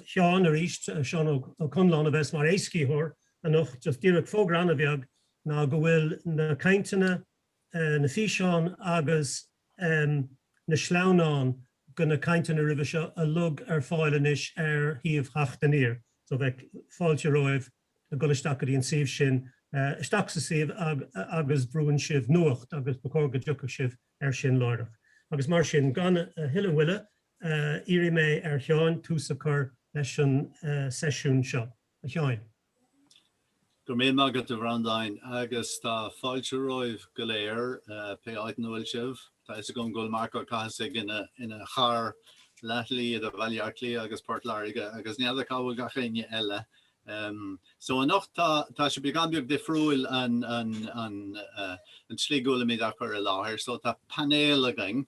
Seán arís, Seán Ó Conláin, a bheas mar éascaítheoir anocht. Just díreach fógra an-bheag ná go bhfuil na cainteanna, na físeáin agus na sleamhnáin de na cainteanna roimhe seo uilig ar fáil anois ar shuíomh Theacht Aniar. So beidh fáilte romhaibh a dhul isteach go dtí an suíomh sin, isteach sa suíomh agus brúnn sibh Nuacht agus ba chóir go dtiocfadh sibh. air sin láithreach, agus mar sin, gan a thuilleadh moille, iarrfaidh mé ar Sheáin tús a chur leis an seisiún seo. A Sheáin. Go raibh míle maith agat, a Bhreandáin, agus tá fáilte romhaibh go léir, pé áit ina bhfuil sibh. Tá a fhios agam go bhfuil Marc Ó Cathasaigh ina charr leathshlí idir Bhaile Átha Cliath agus Port Láirge, agus n'fheadar cá bhfuil gach éinne eile. So anocht tá tá sé beagán beag difriúil an an an an tslí go bhfuilimid á chur i láthair, so tá painéal againn,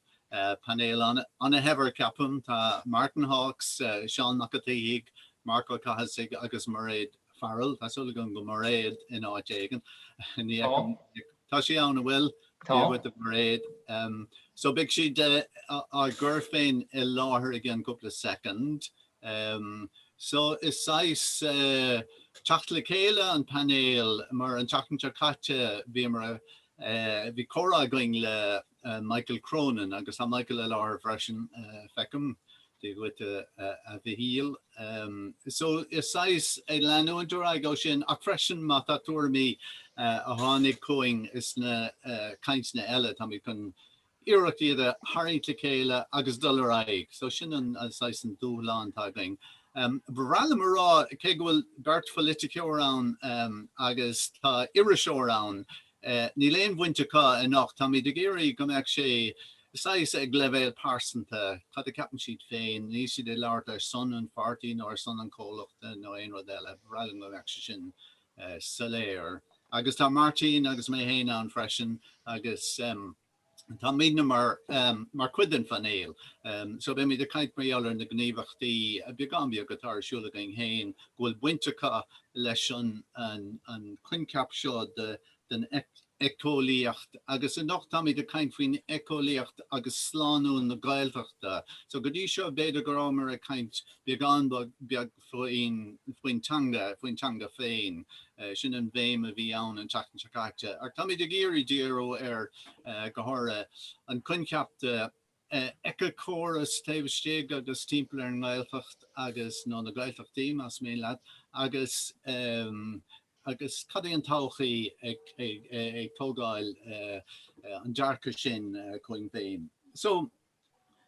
painéal ana ana shaibhir ceapaim, tá Martin Hawkes, Seán Mac an tSíthigh, Marc Ó Cathasaigh agus Mairéad Farrell, tá súil agam go bhfuil Mairéad in áit éigin, ní fheicim í, tá sí ann, an bhfuil? Tá. Dia dhuit a Mhairéad. So beidh siad á gcur féin i láthair i gceann cúpla soicind. Um so is saghas teacht le chéile an phainéil mar an tseachtain seo caite bhíomar eh bhí comhrá againn le Michael Cronin agus tá Michael i láthair freisin feicim Dia dhuit a Mhichíl. Um so is saghas ag leanúint ar aghaidh ó sin ach freisin má tá tuairimí a tháinig chugainn as na cainteanna eile táimid chun iarracht iad a tharraingt le chéile agus dul ar aghaidh. So sin an saghas an dúshlán atá againn. Ba bhreá liom a rá cé go bhfuil beirt pholaiteoir ann agus tá iriseoir ann, níl aon bhaint acu anocht, táimid ag iarraidh go mbeadh sé saghas ag leibhéal pearsanta, cad a ceapann siad féin, níl siad ag labhairt ar son an pháirtí nó ar son an chomhlachta nó aon rud eile. Ba bhreá liom go mbeadh sé sin. soiléir. Agus tá Martin agus mé féin ann freisin agus táimidne mar chuid den phainéal so beimid ag caint mar gheall ar na gníomhachtaí beagán beag atá ar siúl againn féin go bhfuil baint acu leis an gcoincheap seo de den eiceolaíocht agus anocht táimid ag caint faoin eiceolaíocht agus slánú na Gaeltachta. So go dtí seo b'fhéidir go rabhamar ag caint beagán beag faoin faoin teanga, faoin teanga féin. Sin an bhéim a bhí ann an tseachtain seo caite. Ach táimid ag iarraidh díriú ar go háirithe an coincheap de éiceachóras taobh istigh agus timpeall ar an nGaeltacht agus, nó na Gaeltachtaí más maith leat, agus agus cad é an todhchaí ag tógáil an dearcadh sin chugainn féin. So,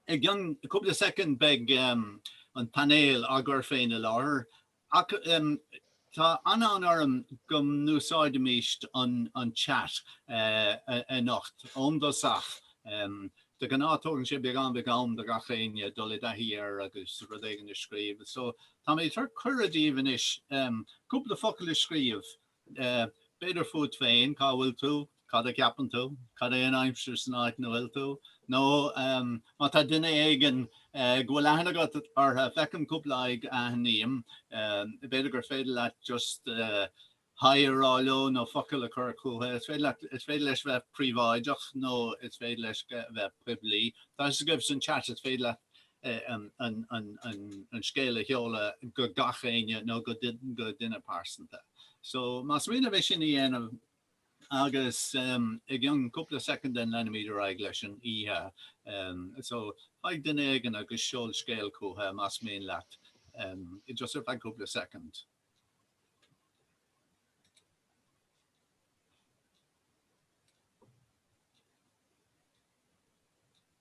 i gcionn cúpla soicind beidh an painéal á gcur féin i láthair Tá an-fhonn orm go n-úsáidfimíst an chat anocht ón dtosach. De ghnáth tógann sé beagán beag am do gach éinne dul i dtaithí air agus rud éigin a scríobh, so tá mé ag tabhairt cuireadh daoibh anois cúpla focal a scríobh B'fhéidir fút féin, cá bhfuil tú, cad a cheapann tú, cad é an aimsir san áit ina bhfuil tú, nó má tá duine éigin go bhfuil aithne agat orthu, feicim cúpla aghaidh a aithním, b'fhéidir gur féidir leat just hi a rá leo nó focal a chur chucu. Is féidir leat, is féidir leis bheith príobháideach nó is féidir leis bheith poiblí. Tá a fhios agaibh san chat, is féidir leat an scéal a sheoladh go gach éinne nó go duine pearsanta. So más mian libh é sin a dhéanamh agus i gcionn cúpla soicind leanfaimid ar aghaidh leis an oíche. So faigh duine éigin agus seol scéal chútha más mian leat just ar feadh cúpla soicind.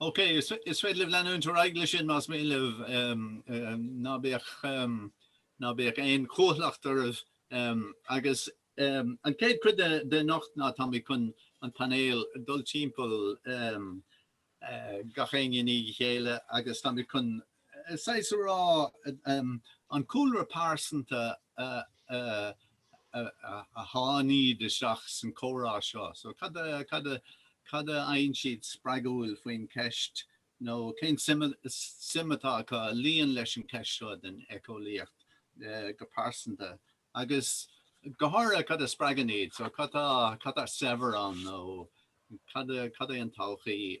OK, is féidir libh leanúint ar aghaidh leis sin más mian libh. Ná bíodh, ná bíodh aon chúthaileacht oraibh. Agus an chéad chuid den anocht ná táimid chun an painéal a dul timpeall, gach éinne i ndiaidh a chéile, agus táimid chun saghas a rá, an cúlra pearsanta a sháinn iad isteach san comhrá seo, so cad a, cad a, cad a fhaigheann siad spreagúil faoin cheist nó cén suim, suim atá acu a luíonn leis an cheist seo den éiceolaíocht go pearsanta Agus go háirithe, cad a spreagann iad? So cad tá saibhir ann nó cad é an todhchaí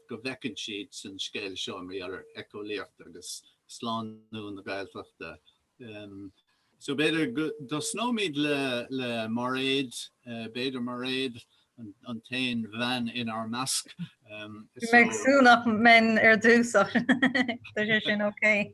go bhfeiceann siad san scéal seo idir éiceolaíocht agus slánú na Gaeltachta? So b'fhéidir go dtosnóimid le Mairéad, b'fhéidir. Mairéad, an t-aon bhean inár measc. Bhí mé ag súil nach mbeinn ar dtús ach tá sé sin okay.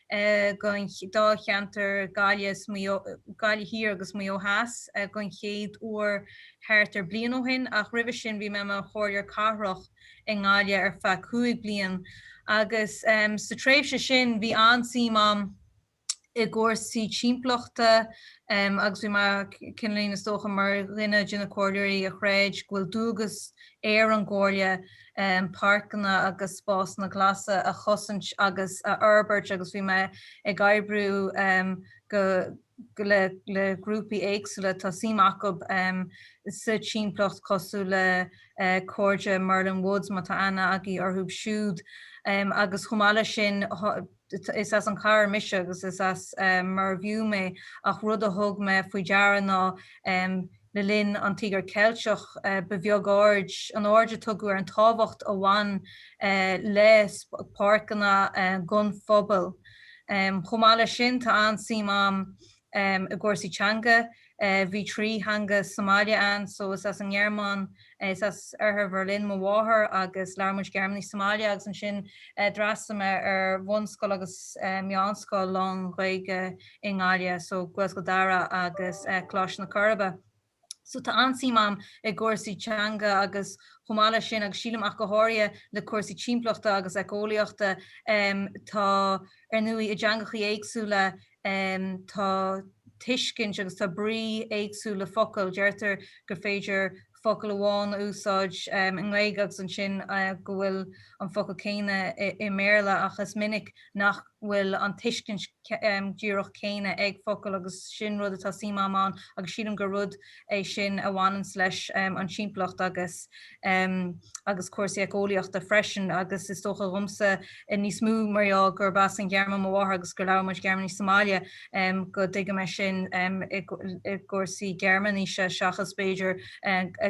Dáilcheantar na Gaillimhe Thiar agus Maigh Eo Theas don chéad uair thart ar bliain ó shin, ach roimhe sin bhí mé i mo Chomhairleoir Cathrach i nGaillimh ar feadh cúig bliain agus sa tréimhse sin bhí an-suim agam i gcúrsaí timpeallachta agus bhí mé cineálín, is dócha, mar dhuine de na Comhairleoirí a chreid go bhfuil dualgas ar an gComhairle páirceanna agus spásanna glasa a chosaint agus a fhorbairt agus bhí mé ag oibriú le grúpaí éagsúla atá suim acu sa timpeallacht cosúil le cairde Merlin Woods, má tá aithne agaibh orthu siúd, agus chomh maith leis sin is as an chathair mise agus is as Mervue mé ach rud a thug mé faoi deara ná le linn an Tíogair Cheiltigh ba bheag an aird a tugadh ar an tábhacht a bhain le páirceanna don phobal. Chomh maith leis sin tá an-suim agam I gcúrsaí teanga, bhí trí theanga sa mbaile ann so is as an nGearmáin, is as oirthear Bherlin mo mháthair agus labhair muid Gearmáinis sa mbaile agus ansin d'fhreastail mé ar bhunscoil agus meánscoil lán-Ghaeilge i nGaillimh, so Gaelscoil Dara agus Coláiste na Coiribe. So tá an-suim a'm i gcúrsaí teanga agus chomh maith leis sin agus sílim ach go háirithe le cúrsaí timpeallachta agus éiceolaíochta em tá ar ndóigh i dteangachaí éagsúla em tá tuiscint agus tá brí éagsúil le focail deirtear gur féidir focal amháin a úsáid em i nGaeilge agus ansin eh go bhfuil an focal céanna i i mBéarla ach is minic nach bhfuil an tuiscint díreach céanna ag focal agus sin rud atá suim agam ann agus sílim gur rud é sin a bhaineanns leis an timpeallacht agus agus cúrsaí éiceolaíochta freisin agus is dócha dhomsa níos mó mar gheall gurb as an Ghearmáin mo mháthair agus gur labhair muid Gearmáinis sa mbaile go dtuigim é sin i gcúrsaí Gearmáinise seachas b'fhéidir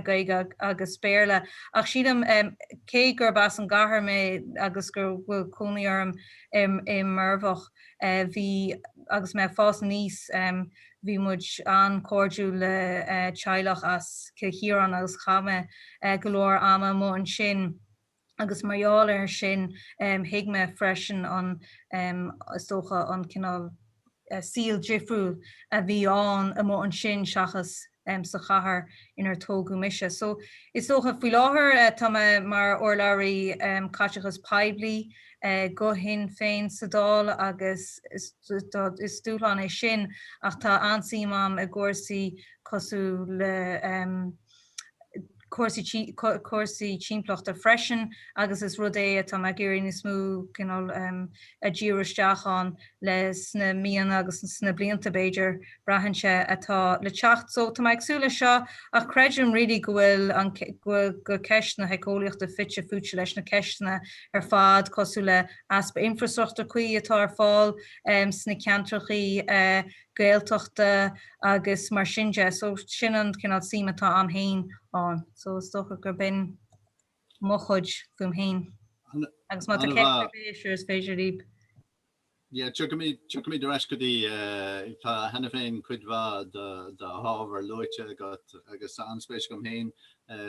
Gaeilge agus Béarla ach sílim cé gurb as an gcathair mé agus go bhfuil cónaí orm i i Murbhach. Bhí, agus mé ag fás aníos, bhí muid an-chairdiúil le teaghlach as Cill Chiaráin agus chaith mé go leor ama amuigh ansin agus mar gheall air sin thuig mé freisin an, is dócha, an cineál saol difriúil a bhí ann amuigh ansin seachas sa chathair inar tógadh mise. So, is dócha, faoi láthair tá mé mar urlabhraí caiteachas poiblí do Shinn Féin sa Dáil agus is dúshlán é sin ach tá an-suim agam i gcúrsaí cosúil le, cúrsaí timpeallachta freisin agus is rud é atá mé ag iarraidh níos mó cineál a dhíriú isteach ann le sna míonna agus sna blianta b'fhéidir, braitheann sé, atá le teacht. So tá mé ag súil leis seo ach creidim really go bhfuil ceist na héiceolaíochta fite fuaite leis na ceisteanna ar fad cosúil le easpa infreastruchtúr cuí atá ar fáil sna ceantracha Gaeltachta agus mar sin de. So sin an cineál suim atá a'm fhéin ann. So is dócha gur b'in mo chuid fúm fhéin. Agus má tá ceist ar bith, sure, is féidir libh. Yeah, tiocfaimid ar ais go dtí, tá cheana féin cuid mhaith de do ábhar luaite agat agus tá an-spéis agam fhéin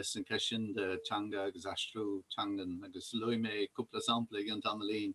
san ceist sin de teanga agus aistriú teangan agus luafaidh mé cúpla sampla i gceann tamaillín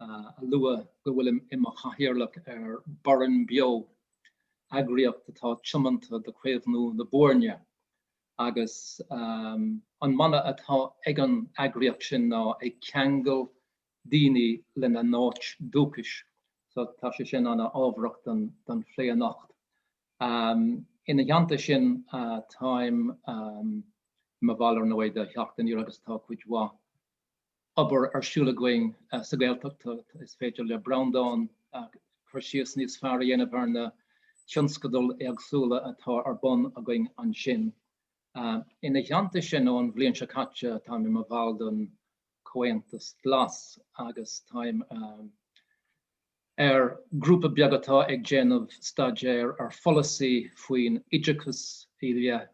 a lua go bhfuilim i mo chathaoirleach ar Burrenbeo, eagraíocht atá tiomanta do chaomhnú na Boirne, agus an mana atá ag an eagraíocht sin ná ag ceangal daoine lena n-áit dúchais. So tá sé sin ana ábharach don phlé anocht. Ina theannta sin táim i mo bhall ar ndóigh de Theacht Aniar agus tá cuid mhaith, obair ar siúl againn sa Ghaeltacht, is féidir le Breandán cur síos níos fearr a dhéanamh ar na tionscadail éagsúla atá ar bun againn ansin. Ina theannta sin, ón bhliain seo caite, táim i mo bhall den Chomhaontas Glas agus táim ar ghrúpa beag atá ag déanamh staidéir ar pholasaí faoin oideachas i leith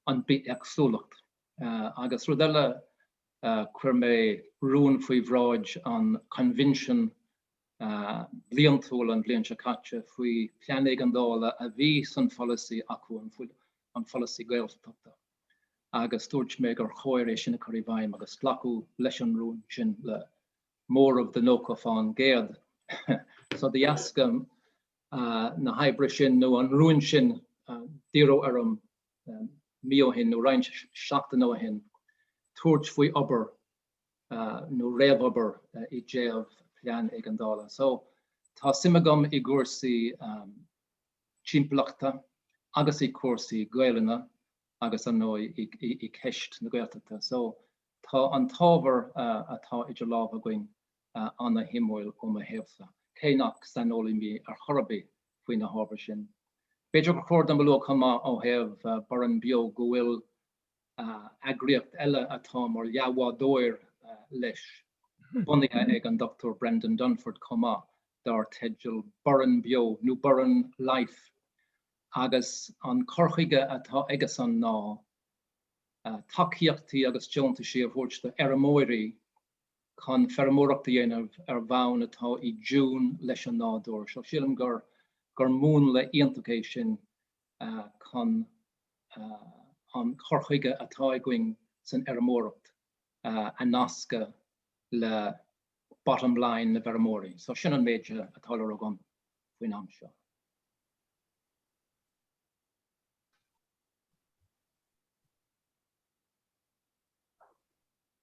an bithéagsúlacht. Agus rud eile, chuir mé rún faoi bhráid an Choinbhinsin bhliantúil an bhliain seo caite faoi phlean éigeandála a bhí san pholasaí acu, an polasaí Gaeltachta, agus dúirt mé gur chóir é sin a chur i bhfeidhm agus glacadh leis an rún sin le móramh de 90%. So de dheasca na hoibre sin nó an rúin sin d'iarradh orm mí ó shin nó roinnt seachtaine ó shin tabhairt faoi obair nó réamhobair i dtaobh plean éigeandála. So tá suim agam i gcúrsaí timpeallachta agus i gcúrsaí Gaelainne agus ar ndóigh i gceist na Gaeltachta. So tá an t-ábhar atá idir lámha againn an-shuimiúil ó mo thaobhsa, cé nach saineolaí mé ar chor ar bith faoi na hábhair sin. B'fhéidir gur chóir dom a lua chomh maith ó thaobh Burrenbeo go bhfuil eagraíocht eile atá mar leathbhádóir leis, bunaithe ag an Dr Brendan Dunford chomh maith, dar teideal Burrenbeo, nó Burren Life, agus an cur chuige atá aigesean ná tacaíochtaí agus deontaisí a thabhairt do fheirmeoirí, chun feirmeoireacht a dhéanamh ar bhonn atá i dtiún leis an nádúr. So sílim gur gur múnla iontach é sin chun an cur chuige atá againn san fheirmeoireacht a nascadh le bottom line na bhfeirmeoirí. So sin an méid atá le rá agam faoin am seo.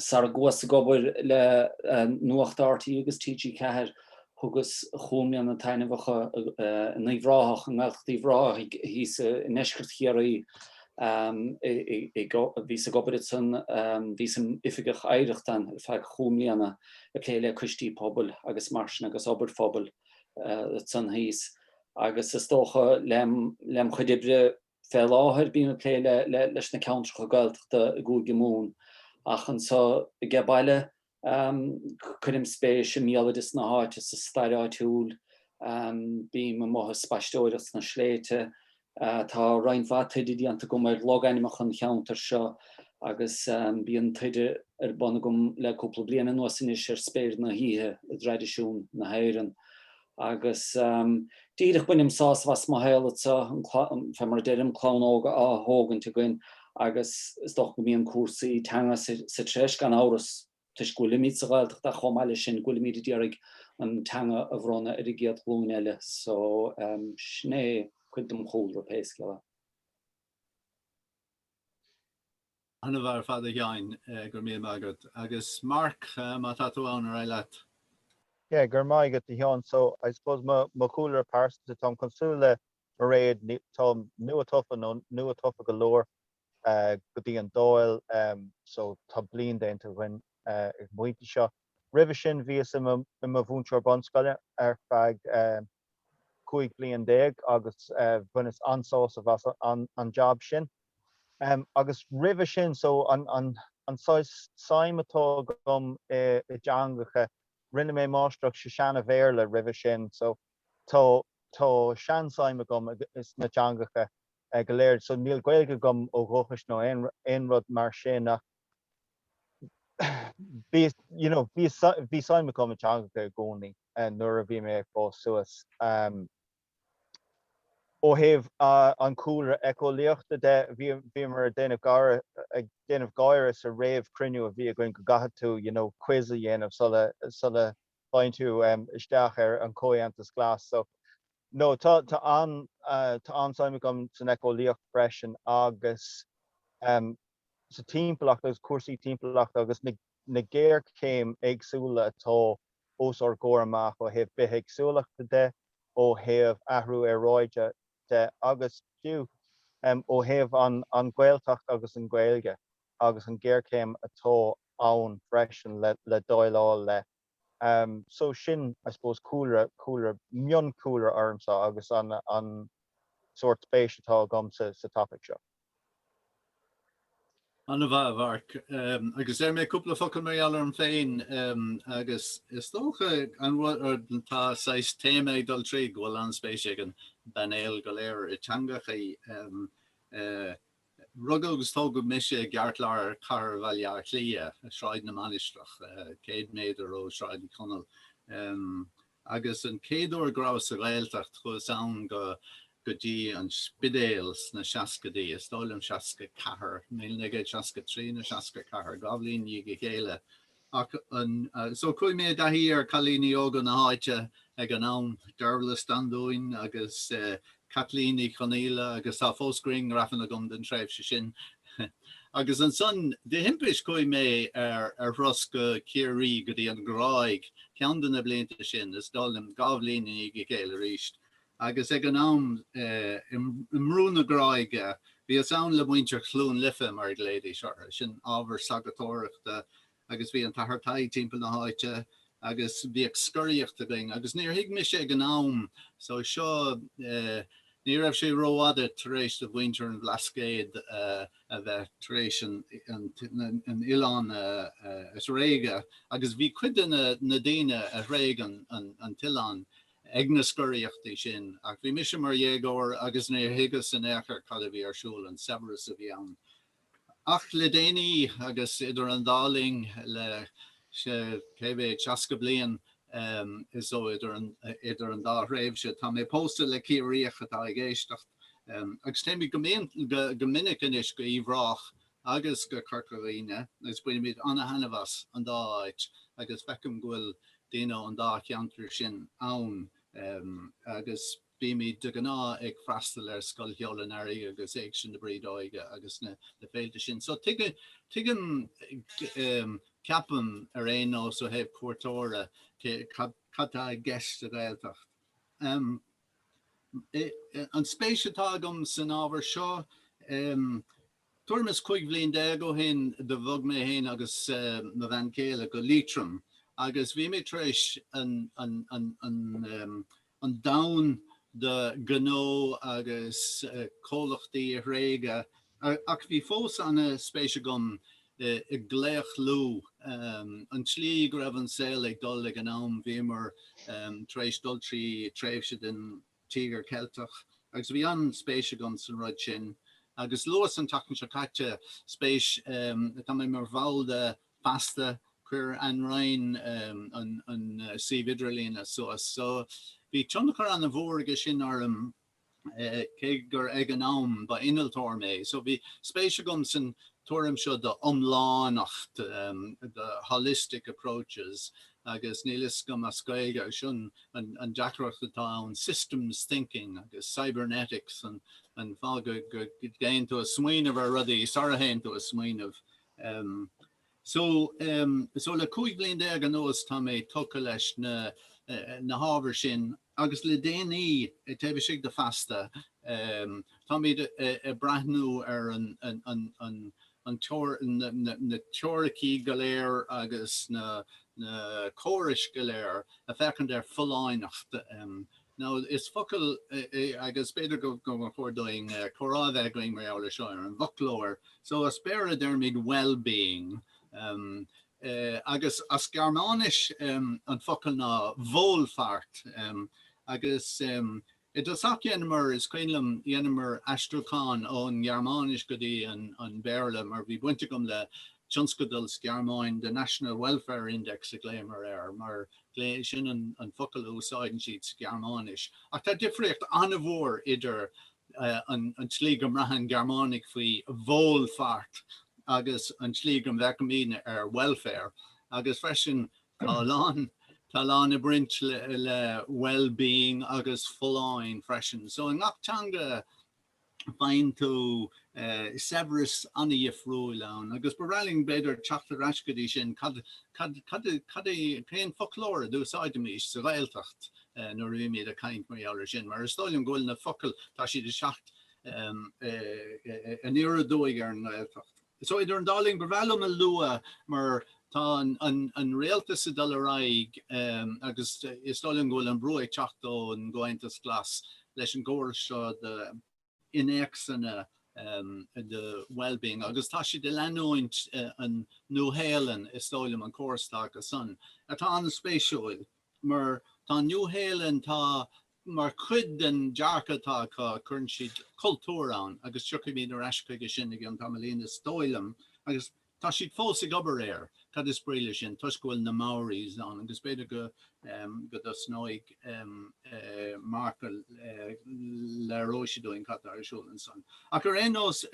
Sara chuas ag obair le Nuacht rte agus TG4, thugas chúig mbliana taitneamhacha in Uíbh Ráthach, i nGaeltacht Uíbh Ráthaigh, thíos i ndeisceart Chiarraí. Bhíos ag obair ansan, bhíos im' Oifigeach Oidhreachta ann ar feadh chúig mbliana, ag plé le coistí pobail agus mar sin agus obair phobail ansan thíos. Agus is dócha, lem chuid oibre, Fé láthair bím ag plé leis na ceantracha Gaeltachta i gCúige Mumhan, ach anso age baile cuirim spéis i mbéaloideas na háite, sa stair áitiúil, bím amuigh ag spaisteoireacht sna sléibhte. Tá roinnt mhaith taighde déanta agam ar logainmeacha an cheantair seo agus bíonn taighde ar bun agam le cúpla bliain anuas anois ar spéir na hoíche i dtraidisiún na hÉireann. Agus díreach bainim sásamh as mo shaol anseo, fé mar a deirim, clann óg á thógaint againn agus is dócha go mbíonn cúrsaí teanga sa treis, gan amhras, toisc go bhfuilimid sa Ghaeltacht ach chomh maith leis sin, go bhfuilimid ag iarraidh an teanga a bhronnadh ar an gcéad ghlúin eile. So, sin é cuid dem chúlra, pé scéal é. Ana-mhaith ar fad a Sheáin, go raibh míle maith agat. Agus Mark, má tá tú ann, ar aghaidh leat. Yeah, go raibh maith agat a Sheáin. So, I suppose mo mo chúlra pearsanta, táim cosúil le Mairéad, táim nua-tofa nó nua-tofa go leor go dtí an Dáil ehm so tá bliain déanta againn ag an bpointe seo. Roimhe sin bhíos i mo i mo mhúinteoir bunscoile ar feadh eh 15 bliain agus bhaineas an-sásamh as an jab sin. Agus roimhe sin, so an saghas suim atá agam i dteangacha, rinne mé máistreacht sa Seana-Bhéarla roimhe sin, so tá sean-suim agam sna teangacha go léir. So níl Gaeilge agam ó dhúchas nó aon rud mar sin ach bhí suim agam i dteangacha i gcónaí. eh, nuair a bhí mé ag fás suas, em, ó thaobh, ah, an cúlra eiceolaíochta de, bhí, bhíomar ag déanamh gáire, ag déanamh gáire sa réamhchruinniú a bhí againn go gcaithfidh tú, you know, quiz a dhéanamh sula, sula bhfaigheann tú, em, isteach ar an Chomhaontas Glas. So, no, tá, tá an, eh, tá an-spéis agam san eiceolaíocht freisin agus, em, sa timpeallacht agus cúrsaí timpeallachta agus na. na géarchéim éagsúla atá os ár gcomhair amach ó thaobh bithéagsúlachta de, ó thaobh athrú aeráide de agus fiú ó thaobh an Ghaeltacht agus an Ghaeilge agus an géarchéim atá ann freisin le déileáil leis. So sin, I suppose, cúlra, cúlra, mionchúlra ormsa agus an, an sórt spéis atá agam sa, sa topaic seo. Ana-mhaith, a Mharc. Agus déarfaidh mé cúpla focal mar gheall orm féin. Agus is dócha, an rud, tá saghas téama ag dul tríd, go bhfuil an-spéis ag an bpainéal go léir i dteangachaí. Rugadh agus tógadh mise i gceartlár chathair Bhaile Átha Cliath, Sráid na Mainistreach, céad méadar ó Shráid Uí Chonaill. Agus an chéad uair go rabhas sa Ghaeltacht, chuas go, go dtí an Spidéal sna seascaidí, is dóigh liom seasca ceathair, míle naoi gcéad seasca trí nó seasca ceathair, dhá bhliain i ndiaidh a chéile. Ach, ah, so chuaigh mé i dtaithí ar chailíní óga na háite ag an am, Dearbhla Standúin agus Caitlín Ní Chonaola, agus tá fós grianghrafanna agam den tréimhse sin. Agus ansan, de thimpist, chuaigh mé ar thuras go Ciarraí, go dtí an Ghráig, ceann de na blianta sin, is dóigh liom, dhá bhliain i ndiaidh a chéile arís. Agus ag an am, i mBrú na Gráige, bhíos ann le muintir Chluain Lifí, mar a ghlaoidís orthu, sin ábhar sagartóireachta agus bhí an tAthair Tadhg timpeall na háite agus bhíodh scoraíocht againn agus níor thuig mise ag an am, so seo, ní raibh sé rófhada tar éis do mhuintir an Bhlascaoid a bheith tar éis an oileán a thréigean agus bhí cuid de na daoine a thréig an t-oileán, ag na scoraíochtaí sin, ach bhí mise mar dhéagóir agus níor thuigeas in aon chor cad a bhí ar siúl, an saibhreas a bhí ann. Ach le déanaí, agus idir an dá linn le cé mhéad, seasca bliain is dóigh, idir an dá thréimhse, tá mé pósta le Ciarraíoch atá ag éisteacht, agus téimid go minic anois go hUíbh Ráthach agus go gCorca Dhuibhne agus bainimid an-thaitneamh as an dá áit agus feicim go bhfuil daoine ón dá cheantar sin ann agus bímid de ghnáth ag freastal ar Scoil Cheoil an Earraigh agus Éigse na Brídeoige agus na féilte sin so tuigim, ceapaim ar aon nós ó thaobh cuairteora, cad tá i gceist sa Ghaeltacht. An spéis atá agam san ábhar seo, Tuairim is cúig bliain déag ó shin do bhog mé féin agus mo bhean chéile go Liatroim agus bhí mé tar éis an domhan de ghnó agus comhlachtaí a thréigean ach bhí fós ana-spéis agam i gclaochlú an tslí go raibh an saol ag dul ag an am. Bhíomar tar éis dul trí tréimhse den. Tíogar Ceilteach, agus bhí an-spéis agam san rud sin. Agus luas an tseachtain seo caite, spéis, tá mé mar bhall de Feasta, chuir Anne Ryan an suíomh idirlíne suas, so bhí tionchar ana-mhór aige sin orm, cé gur ag an am ba innealtóir mé, so bhí spéis agam san tuairim seo de iomlánacht, the holistic approaches. agus níl 'fhios agam as Gaeilge sin an deacracht atá ann systems thinking agus cybernetics an fad go dtéann tú a smaoineamh ar rudaí sara théann tú a smaoineamh em so em so le 15 bliain anuas tá mé tugtha leis na na hábhair sin Agus le déanaí, taobh istigh de Feasta, táimid ag breathnú ar na teoiricí go léir agus na córais go léir ag féachaint ar folláineacht. Nó is focal, agus b'fhéidir go mb'fhearr dúinn comhrá a bheith againn mar gheall air seo ar an bhfoclóir, so as Béarla deirimid well-being. agus as Gearmáinis an focal ná Wohlfahrt, agus i dtosach dheineamar, is cuimhin liom, dheineamar aistriúchán ón nGearmáinis go dtí an Béarla mar bhí baint agam le tionscadal sa Ghearmáin, The National Welfare Index a ghlaomar air, mar sin an focal a úsáideann siad sa Ghearmáinis. Ach tá difríocht an-mhór idir an tslí go mbraitheann Gearmánaigh faoi Wohlfahrt agus an tslí go bhféachaimid ar Welfare, agus freisin tá a lán tá a lán ag baint le wellbeing agus folláin freisin. So i ngach teanga faigheann tú saibhreas an-dhifriúil ann, agus ba bhreá linn b'fhéidir teacht ar ais go dtí sin cad cad cad cén foclóir a d'úsáidimís sa Ghaeltacht eh, nuair a bhímid ag caint mar gheall ar sin, mar is dóigh liom go bhfuil na focail, tá siad ag teacht aniar aduaidh ar an nGaeltacht. So idir an dá linn, ba bhreá liom a lua mar tá an Rialtas ag dul ar aghaidh agus is dóigh liom go bhfuil an brú ag teacht ón gComhaontas Glas leis an gcóras seo innéacsanna do Wellbeing agus tá siad ag leanúint an Nua-Shéalainn, is dóigh liom an córas atá acu san, tá an-spéisiúil mar tá an Nua-Shéalainn tá mar chuid den dearcadh atá acu, cuireann siad cultúr ann agus tiocfaimid ar ais chuige sin i gceann tamaillín is dóigh liom agus Tá siad fós ag obair air, cad is brí le sin, toisc go bhfuil na Maoris ann agus b'fhéidir go dtosnóidh Mark go léireoidh sé dúinn cad tá ar siúl ansan. Ach ar aon nós,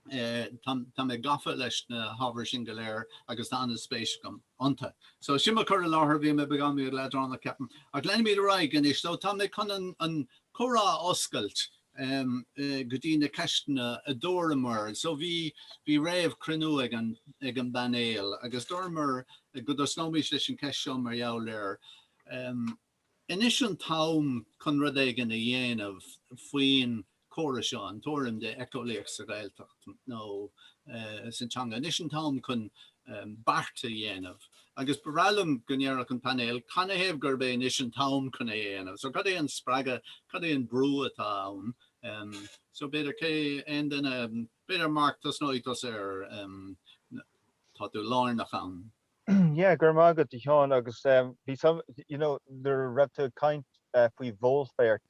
tá mé gafa leis na hábhair sin go léir agus tá an-spéis agam iontu. So sin mo cur i láthair, bhí mé beagán leadránach ceapaim. Ach leanfaimid ar aghaidh anois. So tá mé chun an comhrá a oscailt go dtí na ceisteanna a dúramar. So bhí bhí réamhchruinniú ag an ag an bpainéal agus dúramar go dtosnóimís leis an cheist seo mar gheall air. Anois an t-am chun rud éigin a dhéanamh faoin chóras seo, an tuairim de éiceolaíocht sa Ghaeltacht. nó sa teanga anois an t-am chun beart a dhéanamh agus ba bhreá liom go ndéarfadh an painéal canathaobh gurb é anois an t-am chun é a dhéanamh. So cad é an spreagadh, cad é an brú atá ann? So b'fhéidir cé aon duine, b'fhéidir Mark tosnóidh tusa mar tá tú lárnach ann. Yeah, go raibh maith agat a Sheáin agus bhí some, you know nuair a raibh tú ag caint faoi Wohlfahrt,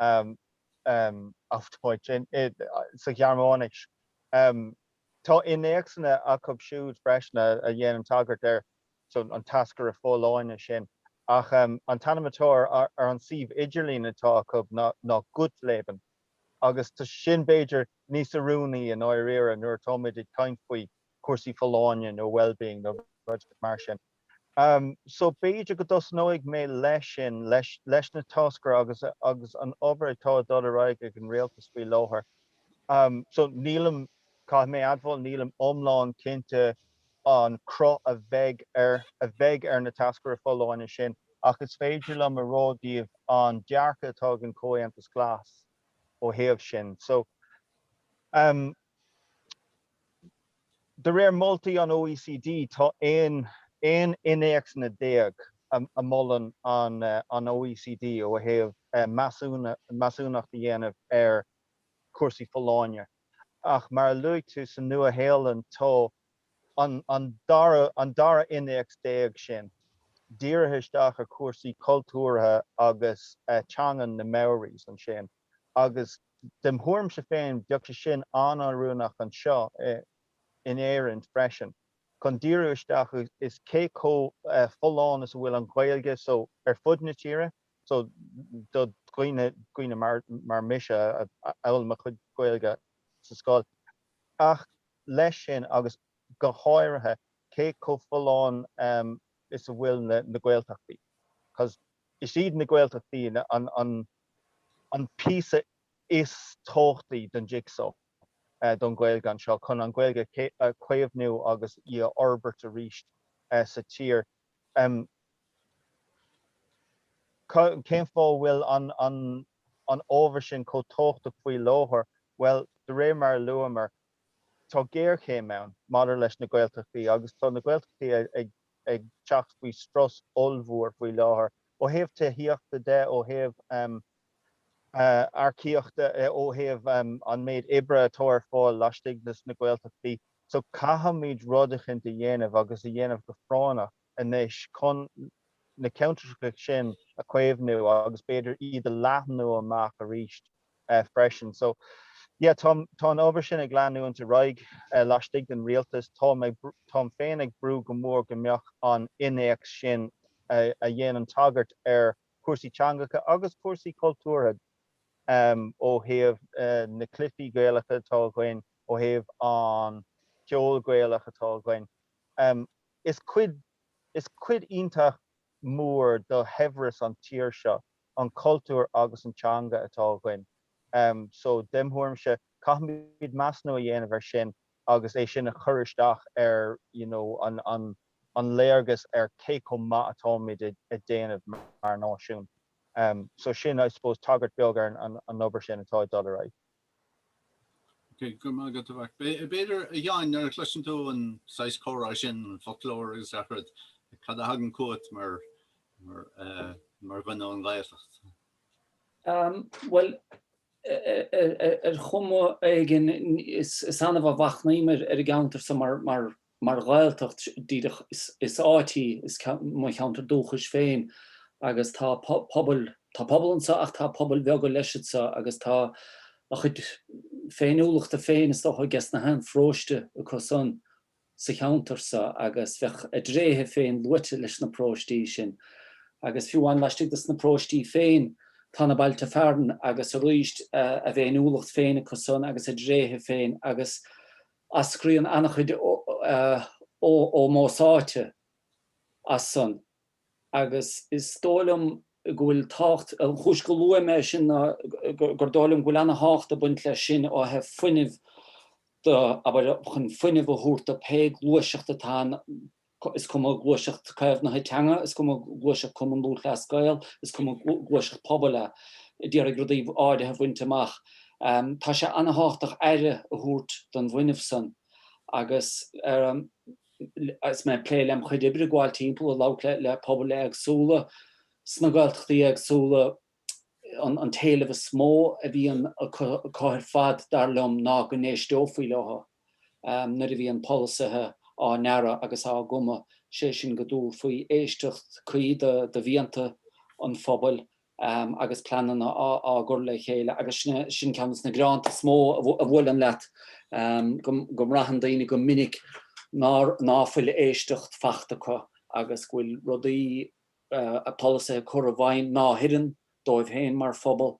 Auf Deutsch, sa Ghearmáinis. Tá innéacsanna acu siúd freisin a dhéanann tagairt ar an táscaire folláine sin, ach an t-ainm atá ar an suíomh idirlín atá acu ná Gut Leben, agus tá sin b'fhéidir níos oiriúnaí i ndáiríre nuair atáimid ag caint faoi chúrsaí folláine nó wellbeing nó rud mar sin. So b'fhéidir go dtosnóidh mé leis sin, leis na táscairí agus an obair atá ag dul ar aghaidh ag an Rialtas faoi láthair. So nílim, caithfidh mé admháil, nílim iomlán cinnte an cruth a bheidh ar, a bheidh ar na táscairí folláine sin, ach is féidir liom a rá daoibh an dearcadh atá ag an Comhaontas Glas ó thaobh sin. So, De réir moltaí an OECD, tá 11 innéacsanna a mholann an OECD ó thaobh measúnacht a dhéanamh ar chúrsaí folláine, ach mar a luaigh tú, sa Nua-Shéalainn tá an dara innéacs déag sin dírithe isteach ar chúrsaí cultúrtha agus teangan na Maoris ansin, agus. Dem' thuairimse féin, bheadh sé sin an-oiriúnach anseo in Éirinn freisin, chun díriú isteach is cé chomh folláin is a bhfuil an Ghaeilge so ar fud na tíre so do dhuine, daoine mar mise a d'fhoghlaim a chuid Gaeilge sa scoil, ach leis sin agus go háirithe cé chomh folláin is a bhfuil na Gaeltachtaí, 'cause is iad na Gaeltachtaí an. an píosa is tábhachtaí den jigsaw don Ghaeilge anseo chun an Ghaeilge a chaomhnú agus í a fhorbairt arís sa tír. Cén fáth a bhfuil an ábhar sin chomh tábhachtach faoi láthair? Bhuel, de réir mar a luamar, tá géarchéim ann maidir leis na Gaeltachtaí agus tá na Gaeltachtaí ag ag teacht faoi strus ollmhór faoi láthair, ó thaobh tithíochta de, ó thaobh earcaíochta, ó thaobh an méid oibre atá ar fáil laistigh de na Gaeltachtaí. So caithfimid rud eicint a dhéanamh agus a dhéanamh go práinneach anois chun na ceantracha sin a chaomhnú agus b'fhéidir iad a leathnú amach arís. freisin. So, yeah, tá, tá an obair sin ag leanúint ar aghaidh laistigh den rialtas. Tá, táim féin ag brú go mór go mbeadh an innéacs sin a, a dhéanann tagairt ar chúrsaí teangacha agus cúrsaí cultúrtha em, ó thaobh na cluifí Gaelacha atá againn, ó thaobh an ceol Gaelach atá againn. Em, is cuid, is cuid iontach mór do shaibhreas an tír seo an cultúr agus an teanga atá againn. So dem' thuairimse, caithfimid measnú a dhéanamh ar sin agus é sin a chur isteach ar you know an an léargas ar cé chomh maith atáimid a' déanamh mar náisiún. So sin I suppose tagairt beag ar an an obair sin atá a' dul ar aghaidh. Ok, go maith agat, a Mharc. B'fhéidir, a Sheáin, nuair a chloiseann tú an saghas comhrá sin, an foclóir agus gach rud, cad a thagann chugat mar, mar eh, mar dhuine ón nGaeltacht? Am, bhuel, ar chuma éigin, is annamh a mhachnaím ar an gceantar so mar, mar, Mar Ghaeltacht díreach, is áit í, is mo cheantar dúchais féin agus tá pobal, tá pobal anso ach tá pobail bheaga leis anso agus tá a chuid féiniúlachta féin is dócha aiges na haon pharóiste acu san, sa cheantar so agus bheadh a dtréithe féin luaite leis na paróistí sin. Agus fiú amháin laistigh de sna paróistí féin, tá na bailte fearann agus arís a bhféiniúlacht féin acu san agus a dtréithe féin agus Eascraíonn an-chuid ómóis áite as san agus is dóigh liom go bhfuil tábhacht, an chúis go luaim é sin ná gur dóigh liom go bhfuil an-tábhacht ag baint leis sin ó thaobh fuinnimh de, abair, chun fuinneamh a thabhairt do pé gluaiseacht atá ann, Is cuma gluaiseacht caomhnaithe teanga, is cuma gluaiseacht Cumann Lúthchleas Gael, is cuma gluaiseacht pobail a d'iarraidh rudaí áirithe a bhaint amach, tá sé an-thábhachtach aire a thabhairt don bhfuinneamh san. Agus is mé ag plé lem' chuid oibre gabháil timpeall ag labhairt le pobail éagsúla sna Gaeltachtaí éagsúla, an t-éileamh is mó a bhíonn acu ar fad, dar liom, ná go n-éisteofaí leothu nuair a bhíonn polasaithe á ndearadh agus á gcumadh, sé sin go dtabharfaí éisteacht cuí do mhianta an phobail agus pleananna á gcur le chéile. Agus sin ceann de sna gearánta is mó a bhuaileann leat, go mbraitheann daoine go minic ná fuil éisteacht fachta acu agus go bhfuil rudaí polasaithe á chur i bhfeidhm ná hoireann dóibh féin mar phobal.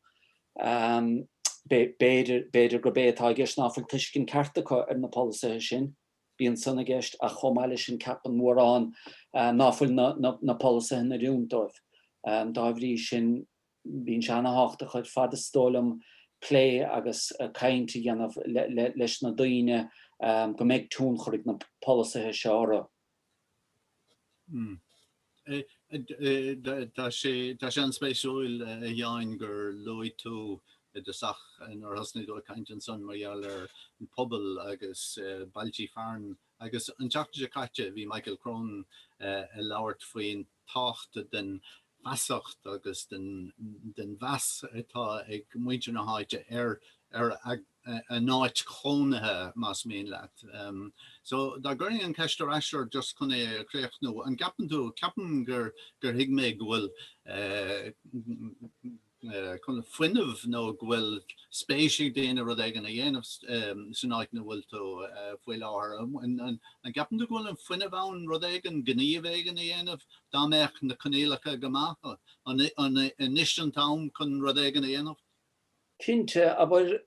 B'fhéidir gurb é atá i gceist ná fuil tuiscint cheart acu ar na polasaithe sin. Bíonn san i gceist, ach chomh maith leis sin ceapann mórán ná fuil na polasaithe in oiriúint dóibh. Dá bhrí sin bíonn sé an-thábhachtach ar fad is dóigh liom plé agus caint a dhéanamh leis na daoine go mbeidh tionchar ag na polasaithe seo orthu. Tá sé an-spéisiúil a Sheáin gur luaigh tú i dtosach nuair a thosnaigh tú ag caint ansan mar gheall ar an pobal agus bailtí fearann agus an tseachtain seo caite bhí Michael Cronin ag labhairt faoin tábhacht den fheasacht agus den mheas atá ag muintir na háite ar a n-áit chónaithe, más mian leat. So, dá gcuirfinn an ceist ar ais ort, just chun é a chríochnú, an gceapann tú, ceapaim gur thuig mé go bhfuil, chun fuinneamh nó go bhfuil spéis ag daoine rud éigin a dhéanamh san áit ina bhfuil tú faoi láthair. An gceapann tú go bhfuil an fuinneamh ann rud éigin, gníomh éigin a dhéanamh dá mbeadh na coinníollacha go maith? An anois an t-am chun rud éigin a dhéanamh? Cinnte, abair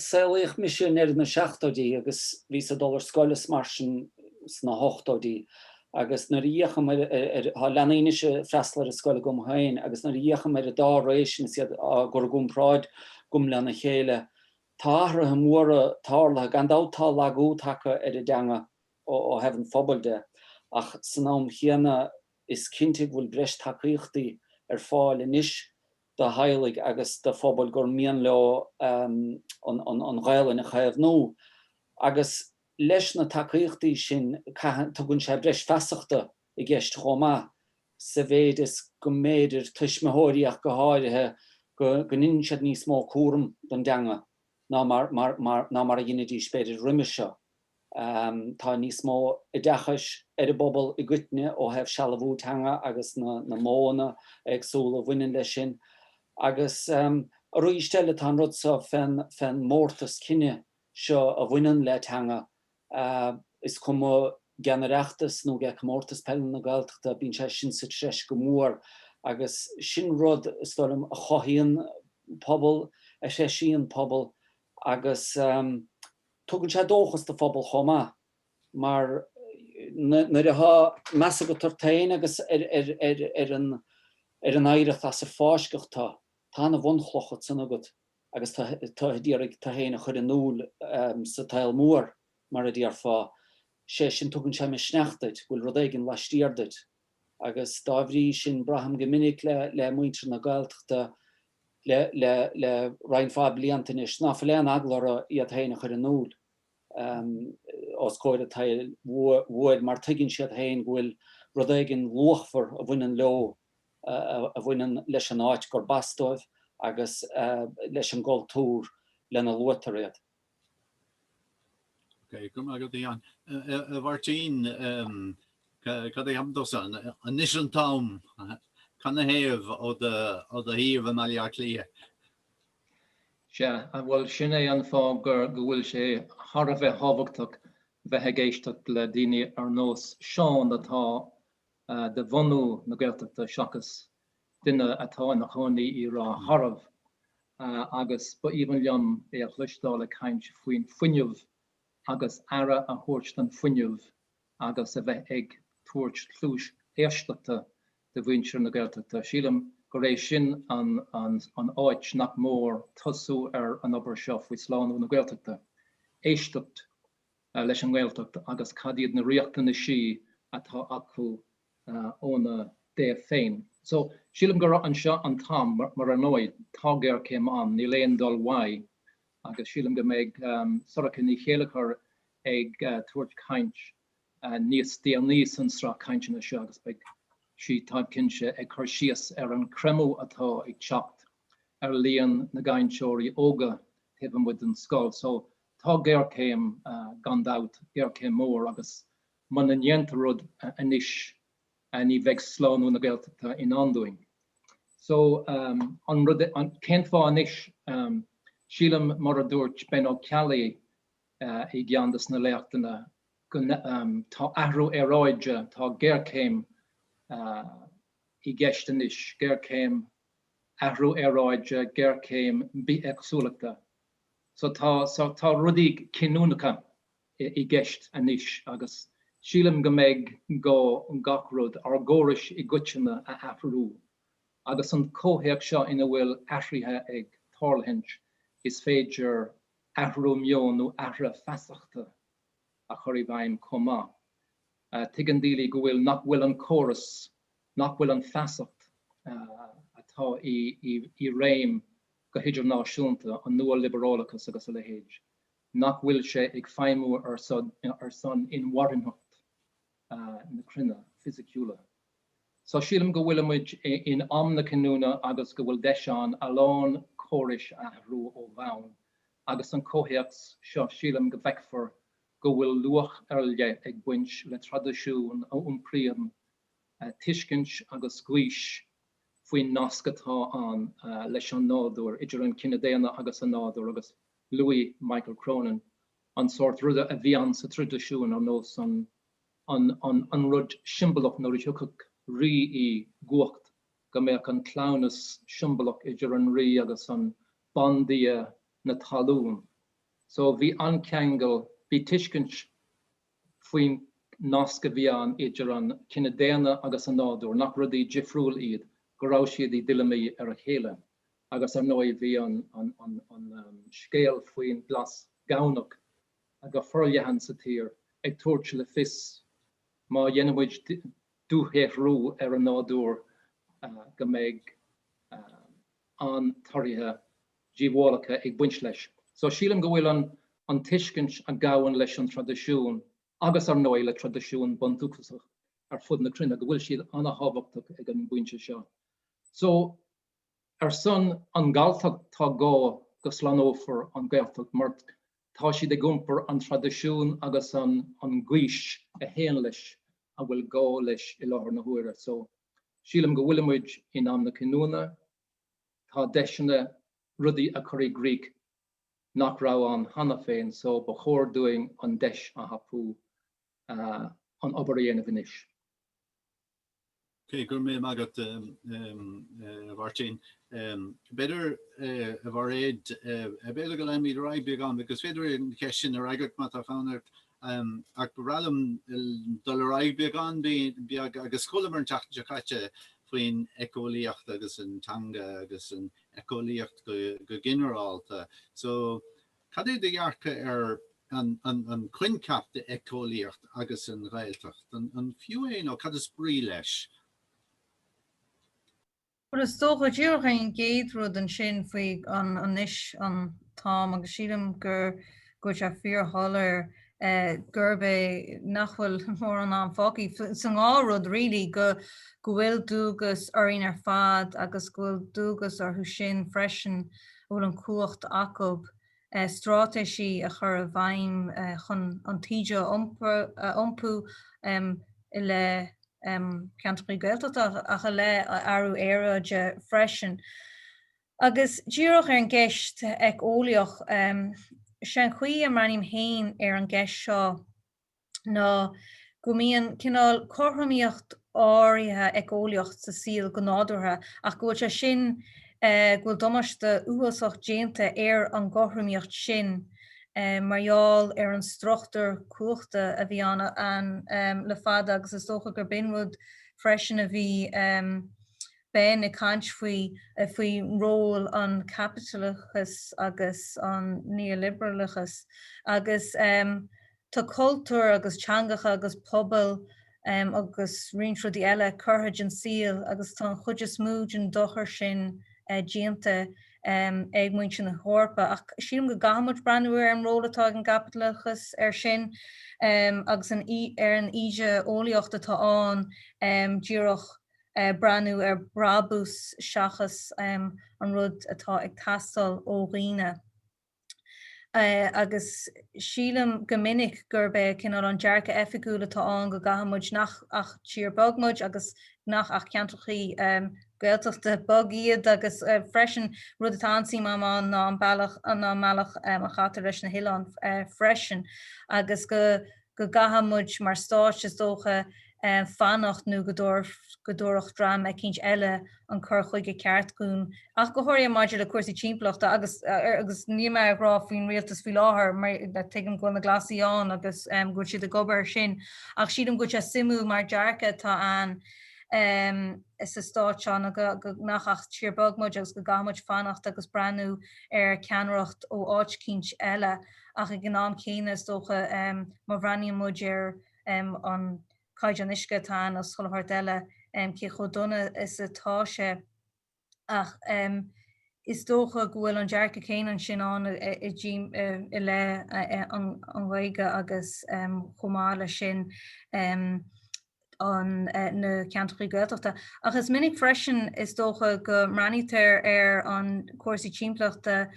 Saolaíodh mise i ndeireadh na seachtóidí agus bhíos ag dul ar scoil is mar sin sna hochtóidí agus nuair a fhéachaim ar, tá leanaí anois ag freastal ar an scoil agam féin agus nuair a fhéachaim ar an dá ré sin is iad á gcur i gcomparáid agam lena chéile tá athruithe móra tarlaithe. Gan dabht tá lagú tagtha ar an dteanga ó thaobh an phobail de ach san am chéanna is cinnte go bhfuil breis tacaíochtaí ar fáil anois do theaghlaigh agus do phobail gur mian leo an Ghaelainn a chaomhnú. Agus leis na tacaíochtaí sin tugann sé breis feasachta i gceist chomh maith, sa mhéid is go mb'fhéidir tuismitheoirí ach go háirithe, go ndéanann siad níos mó cúram don dteanga. ná mar a dheinidís, b'fhéidir, roimis seo. Tá níos mó oideachais ar an bpobal i gcoitinne ó thaobh sealbhú teanga agus na modhanna éagsúla a bhaineann leis sin. Agus aríst eile, tá an rud so fén mórtas cine seo a bhaineann le teanga is cuma ag an Oireachtas nó ag Comórtas Peile na Gaeltachta, bíonn sé sin sa treis go mór agus sin rud, is dóigh liom, a chothaíonn pobal, a threisíonn pobal agus tugann sé dóchas do phobal chomh maith mar nuair atá meas agat ort féin agus ar an oidhreacht as ar fáisceadh tu, tá an bhunchloch sin agat. agus tú ag iarraidh tú féin a chur in iúl sa tsaol mhór, mar a déarfá, sé sin tugann sé misneach duit, go bhfuil rud éigin laistiar duit. Agus dá bhrí sin braithim go minic le muintir na Gaeltachta le roinnt mhaith blianta anois ná fuil aon eagla orthu iad féin a chur in iúl. os comhair a tsaoil mhóir mar tuigeann siad féin go bhfuil rud éigin luachmhar a bhaineann leo a bhaineann leis an áit gurb as dóibh agus leis an gcultúr lena luaitear iad. Go raibh maith agat, a Sheáin. A Mháirtín, cad é am domsa? Anois an t-am! Canathaobh ó do shuíomh i mBaile Átha Cliath? Sea, bhuel, sin é an fáth gur, go bhfuil sé thar a bheith thábhachtach bheith ag éisteacht le daoine ar nós Seán atá de bhunadh na Gaeltachta seachas duine atá ina chónaí i Ráth Garbh agus ba aoibhinn liom é a chloisteáil ag caint faoin fuinneamh agus aire a thabhairt don fuinneamh agus a bheith ag tabhairt cluais éisteachta de mhuintir na Gaeltachta. Sílim gur é sin an áit nach mór tosú ar an obair seo faoi slánú na Gaeltachta, éisteacht leis an nGaeltacht agus cad iad na riachtanaisí atá acu óna dtaobh féin. So, sílim gur anseo an t-am, mar ar ndóigh tá géarchéim ann, níl aon dul uaidh, agus sílim go mbeidh Sorcha Ní Chéilleachair ag tabhairt caint níos déanaí san sraith cainteanna seo agus beidh sí, táim cinnte, ag cur síos ar an creimeadh atá ag teacht ar líon na gcainteoirí óga taobh amuigh den scoil. So, tá géarchéim gan dabht, géarchéim mór agus muna ndéantar rud anois ní bheidh slánú na Gaeltachta i ndán dúinn. So, an rud, cén fáth anois? Sílim, mar a dúirt Ben Ó Ceallaigh, i gceann de na léachtanna, tá athrú aeráide, tá géarchéim i gceist anois, géarchéim athrú aeráide, géarchéim bithéagsúlachta. So tá tá rudaí cinniúnacha i gceist anois agus sílim go mbeidh gá gach rud, ár gcórais i gcoitinne a athrú. Agus an comhthéacs seo ina bhfuil athruithe ag tarlúint, is féidir athrú meoin nó athruithe feasachta a chur i bhfeidhm chomh maith. Tuigeann daoine go bhfuil nach bhfuil an córas nach bhfuil an feasacht atá i réim go hidirnáisiúnta, an nua-liobarálachas agus a leithéid, nach bhfuil sé ag feidhmiú ar son inmharthanaitheacht na cruinne fisiciúla. So sílim go bhfuilimid in am na cinniúna agus go bhfuil deis ann a lán córais a athrú ó bhonn agus san comhthéacs seo sílim go bhfeicfear go bhfuil luach ar leith ag baint le traidisiún a iompraíonn tuiscint agus gaois faoin nasc atá ann leis an nádúr, idir an cine daonna agus an nádúr agus luaigh Michael Cronin an sórt ruda a bhí ann sa traidisiún ar nós an rud siombalach nuair a thiocfadh rí i gcumhacht go mbeadh an cleamhnas siombalach idir an rí agus an bandia na talún. So bhí an-cheangal, bhí tuiscint faoin nasc a bhí ann idir an cine daonna agus an nádúr, nach rudaí difriúil iad, go raibh siad i dtuilleamaí ar a chéile. Agus ar ndóigh bhí an scéal faoin Glas Gamhnach go forleathan sa tír, ag tabhairt le fios má dhéanaimid dúshaothrú ar an nádúr go mbeidh an-torthaí díobhálacha ag baint leis. So sílim go bhfuil an tuiscint a ghabhann leis an traidisiún agus ar ndóigh le traidisiún bundúchasach ar fud na cruinne, go bhfuil siad an-thábhachtach ag an bpointe seo. So. Ar son an Galltacht tá gá go slánófar an Gaeltacht mar tá siad ag iompar an traidisiúin agus an gaois a théann leis a bhfuil gá leis i láthair na huaire. So, sílim go bhfuilimid in am na cinniúna. Tá deiseanna rudaí a chur i gcrích nach raibh ann cheana féin so ba chóir dúinn an deis a thapú an obair a dhéanamh anois. Okay, go raibh maith agat, a Mháirtín, b'fhéidir, a Mhairéad, b'fhéidir go leanfaimid ar aghaidh beagán, agus b'fhéidir an cheist sin a fhreagairt má tá fonn ort, ach ba bhreá liom dul ar aghaidh beagán beag, agus chualamar an tseachtain seo caite faoin eiceolaíocht agus an teanga agus an eiceolaíocht go ginearálta. So, Cad é do dhearcadh ar an coincheap de éiceolaíocht agus an Ghaeltacht? An fiú é nó cad is brí leis? Bhuel, is dócha go díreach an chéad rud ansin faoi anois an t-am, agus sílim go bhfuil sé fíor-shoiléir, gurb é nach bhfuil mórán ama fágtha sa dá rud really go go bhfuil dualgas orainn ar fad agus go bhfuil dualgas orthu sin freisin a bhfuil an chumhacht acub stráitéisí a chur i bhfeidhm chun an taoide a iompú i leith ceantracha Gaeltachta ach i leith aeráide freisin. Agus díreach ar an gceist eiceolaíoch, is é an chaoi a mbreathnaím féin ar an gceist seo ná go mbíonn cineál cothromaíocht áirithe eiceolaíoch sa saol go nádúrtha ach go bhfuil sé sin, go bhfuil damáiste uafásach déanta ar an gcothromaíocht sin mar gheall ar an struchtúr cumhachta a bhí ann le fada agus is dócha gur b'in rud freisin a bhí Ben ag caint faoi faoi ról an chaipitleachais agus an neoliberalachais agus tá cultúir agus teangacha agus pobail agus roinnt rudaí eile curtha den saol agus tá an chuid is mó den dochar sin déanta ag muintir na hEorpa ach sílim go gcaithfimid breathnú ar an ról atá ag an gcaipitleachas air sin agus ar an idé-eolaíocht atá ann díreach breathnú ar bhrabús seachas an rud atá ag teastáil ó dhaoine. Agus sílim go minic gurb é cineál an dearcaidh oifigiúil atá ann go gcaithfidh muid níl ach tír beag muid agus nach bhfuil ach ceantrachaí Gaeltachta beag iad agus freisin rud atá an-suim am ann ná an bealach a chaitear leis na hoileáin freisin agus go go gcaithfidh muid mar stát, is dócha, fanacht nó go dtabharfadh dream eicínt eile an cur chuige ceart dhúinn, ach go háirithe maidir le cúrsaí timpeallachta, agus níl mé ag rá faoin rialtas faoi láthair, mar tuigim go bhfuil na Glasaigh ann agus go bhfuil siad ag obair ar sin, ach sílim go bhfuil sé suimiúil mar dhearcadh atá ann sa stát seo ná go nach ach tír beag muid agus go gcaithfidh muid fanacht agus breathnú ar ceannaireacht ó áit eicínt eile. ach ag an am céanna, is dócha, má bhreathnaíonn muid ar an caighdeán uisce atá ann is chuile shórt eile, cé chomh dona is atá sé. Ach is dócha go bhfuil an dearcadh céanna ansin ann i leith an ghaeilge agus chomh maith leis sin, na ceantracha Gaeltachta ach is minic freisin is dócha go mbreathnaítear ar an cúrsaí timpeallachta,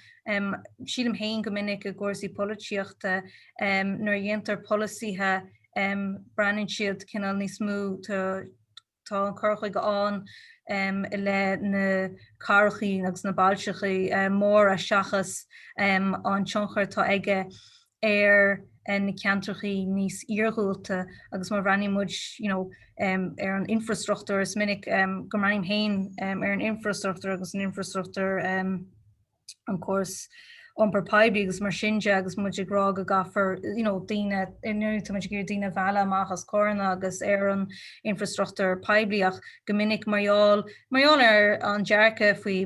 sílim féin go minic i gcúrsaí polasaíochta, nuair a dhéantar polasaithe breathnaíonn siad cineál níos mó, tá an cur chuige ann i leith na cathrachaí agus na bailteachaí móra seachas an tionchar atá aige ar na ceantrachaí níos iargúlta agus má bhreathnaíonn muid you know ar an infreastruchtúr, is minic go mbreathnaím féin ar an infreastruchtúr agus an infreastruchtúr an córas iompair poiblí agus mar sin de agus muid ag rá go gcaithfear you know daoine, ar ndóigh tá muid ag iarraidh daoine a mhealladh amach as carranna agus ar an infreastruchtúr poiblí ach go minic mar gheall, mar gheall ar an dearcadh faoi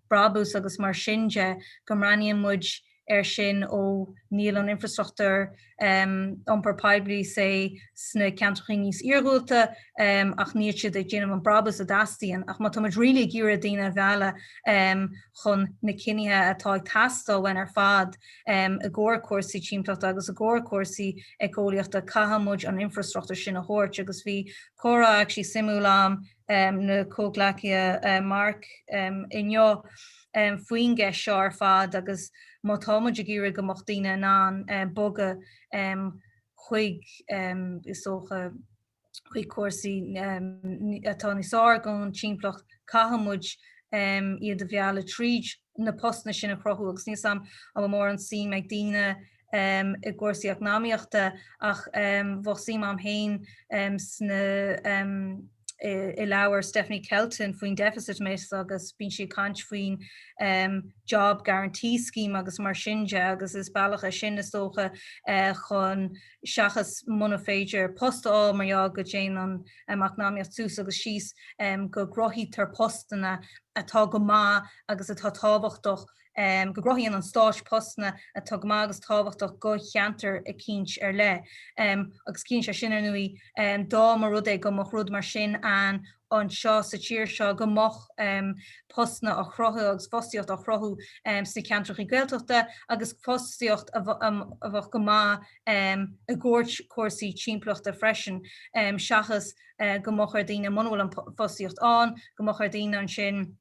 brabús agus mar sin de go mbreathnaíonn muid air sin ó níl, an infrastruchtúr iompair poiblí sna ceantracha níos iargúlta ach níl siad ag déanamh an brabús a dteastaíonn. Ach má tá muid really ag iarraidh daoine a mhealladh chun na cinnithe atá ag teastáil uainn ar fad i gcomhair cúrsaí timpeallachta agus i gcomhair cúrsaí éiceolaíochta, caithfidh muid an infrastruchtúr sin a thabhairt. Agus bhí comhrá actually suimiúil a'm. le mo chomhghleacaí Mark inniu faoin gceist seo ar fad agus má tá muid ag iarraidh go mbeadh daoine in ann bogadh chuig, is dócha, chuig cúrsaí atá níos fearr don timpeallacht, caithfidh muid iad a mhealladh tríd na postanna sin a chruthú agus níl 'sam, an bhfuil mórán suim ag daoine i gcúrsaí eacnamaíochta ach bheadh suim agam féin sna i leabhar Stephanie Kelton faoin deficit myth agus bíonn sí ag caint faoin job guarantee scheme agus mar sin de agus is bealach é sin is dócha chun seachas muna féidir post a fháil mar gheall go dtéann an eacnamaíocht suas agus síos go gcruthaítear postanna atá go maith agus atá tábhachtach um go gcruthaíonn an Stáit postanna atá go maith agus tábhachtach go cheantar eicínt ar leith. um Agus ciallaíonn sé sin, ar ndóigh, um dá mba rud é go mbeadh rud mar sin ann anseo sa tír seo, go mbeadh um postanna á chruthú agus fostaíocht á chruthú um sna ceantrachaí Gaeltachta agus fostaíocht a um a bheadh go maith um i gcomhair cúrsaí timpeallachta freisin. um Seachas um go mbeadh ar daoine, muna bhfuil an fostaíocht ann, go mbeadh ar daoine ansin,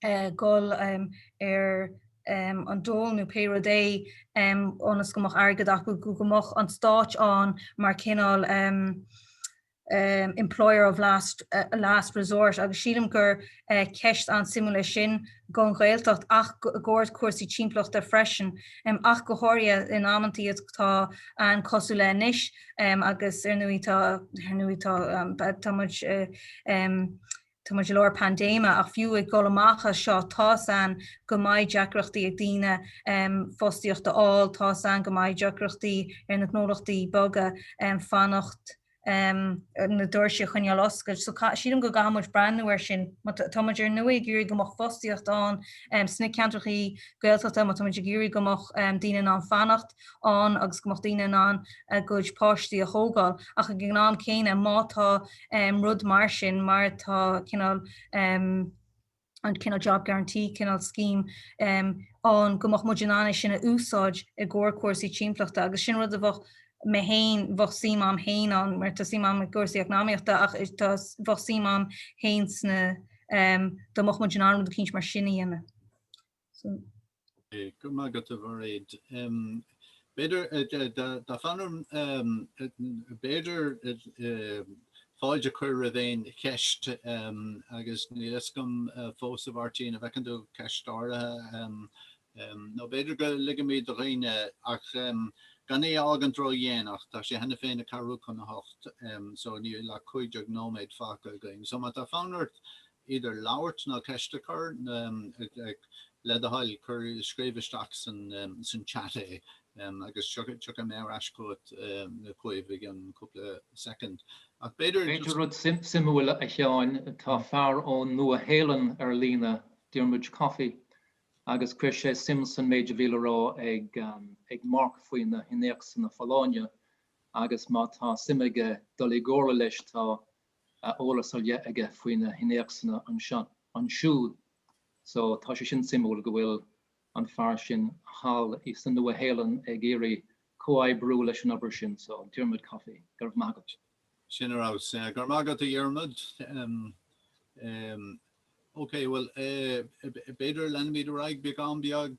dhul ar an dól nó pé rud é ionas go mbeadh airgead acu go go mbeadh an stáit ann mar cineál employer of last last resort agus sílim gur ceist an-suimiúil é sin don Ghaeltacht ach i gcomhair cúrsaí timpeallachta freisin ach go háirithe in amantaí atá an-cosúil le anois agus ar ndóigh tá ar ndóigh tá tá muid Tá muid i lár paindéime, ach fiú ag dul amach as seo, tá's ainn go mbeidh deacrachtaí ag daoine fostaíocht a fháil, tá's ainn go mbeidh deacrachtaí ar na gnólachtaí beaga fanacht, na doirse a choinneáil oscailte. So sílim go gcaithfidh muid breathnú air sin. Má tá muid ar ndóigh ag iarraidh go mbeadh fostaíocht ann sna ceantrachaí Gaeltachta, má tá muid ag iarraidh go mbeadh daoine in ann fanacht, ann agus go mbeadh daoine in ann a gcuid páistí a thógáil, ach ag an am céanna má tá rud mar sin, mar atá cineál an cineál job guarantee, cineál scheme ann, go mbeadh muid in ann é sin a úsáid i gcomhair cúrsaí timpeallachta. Agus sin rud a bheadh mé féin, bheadh suim a'm féin ann, mar tá suim a'm i gcúrsaí eacnamaíochta, ach tá, bheadh suim a'm féin sna, dá mbeadh muid in ann rud eicínt mar sin a dhéanamh. Go raibh maith agat a Mhairéad. B'fhéidir tá fonn orm b'fhéidir fáilte a chur roimh aon cheist agus níl fhios agam fós a Mháirtín a bhfeiceann tú ceist áirithe nó b'fhéidir go ligimid do dhaoine ach gan é a fhágaint ró-dhéanach, tá sé cheana féin a ceathrú chun a hocht so níl ach cúig déag nóiméad fágtha againn. So má tá fonn ort idir labhairt ná ceist a chur, le do thoil, cuir, scríobh isteach san chat é agus tiocfaidh mé ar ais chugat chugaibh i gceann cúpla soicind. Ach b'fhéidir just. Rud suimiúil a Sheáin, tá fear ón Nua Shéalainn ar líne, Diarmuid Coffey, agus chuir sé suim san méid a bhí le rá ag Mark faoi na hinnéacsanna folláine agus má tá suim aige dul i gcomhairle leis tá a eolas ar leith aige faoi na hinnéacsanna anseo, ansiúd so tá sé sin suimiúil go bhfuil an fear sin thall i sa Nua-Shéalainn ag iarraidh comhoibriú leis an obair sin so, Diarmaid Coffey, go raibh maith agat. Sin a raibh. Go raibh maith agat, a Dhiarmaid. OK, bhuel, b'fhéidir leanfaimid ar aghaidh beagán beag.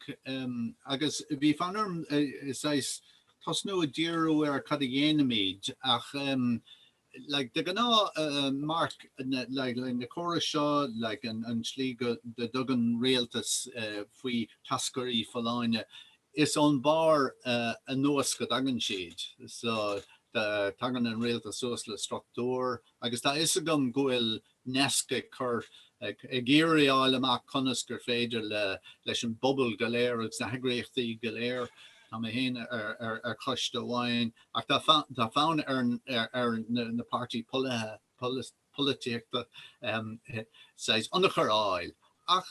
Agus bhí fonn orm, saghas, tosnú a díriú ar cad a dhéanaimid ach. De ghnáth, Mark, like, na córais seo, like, an tslí go dtugann rialtais faoi tháscairí folláine. Is ón barr anuas go dtagann siad. So tagann an rialtas suas le struchtúr, agus tá a fhios agam go bhfuil Nesc ag cur ag iarraidh a fháil amach conas gur féidir le leis an bpobal go léir agus na heagraíochtaí go léir Tá mé féin ar choiste amháin ach tá tá fonn ar ar na páirtithe polaithe polaití polaitíochta saghas ionchur a fháil ach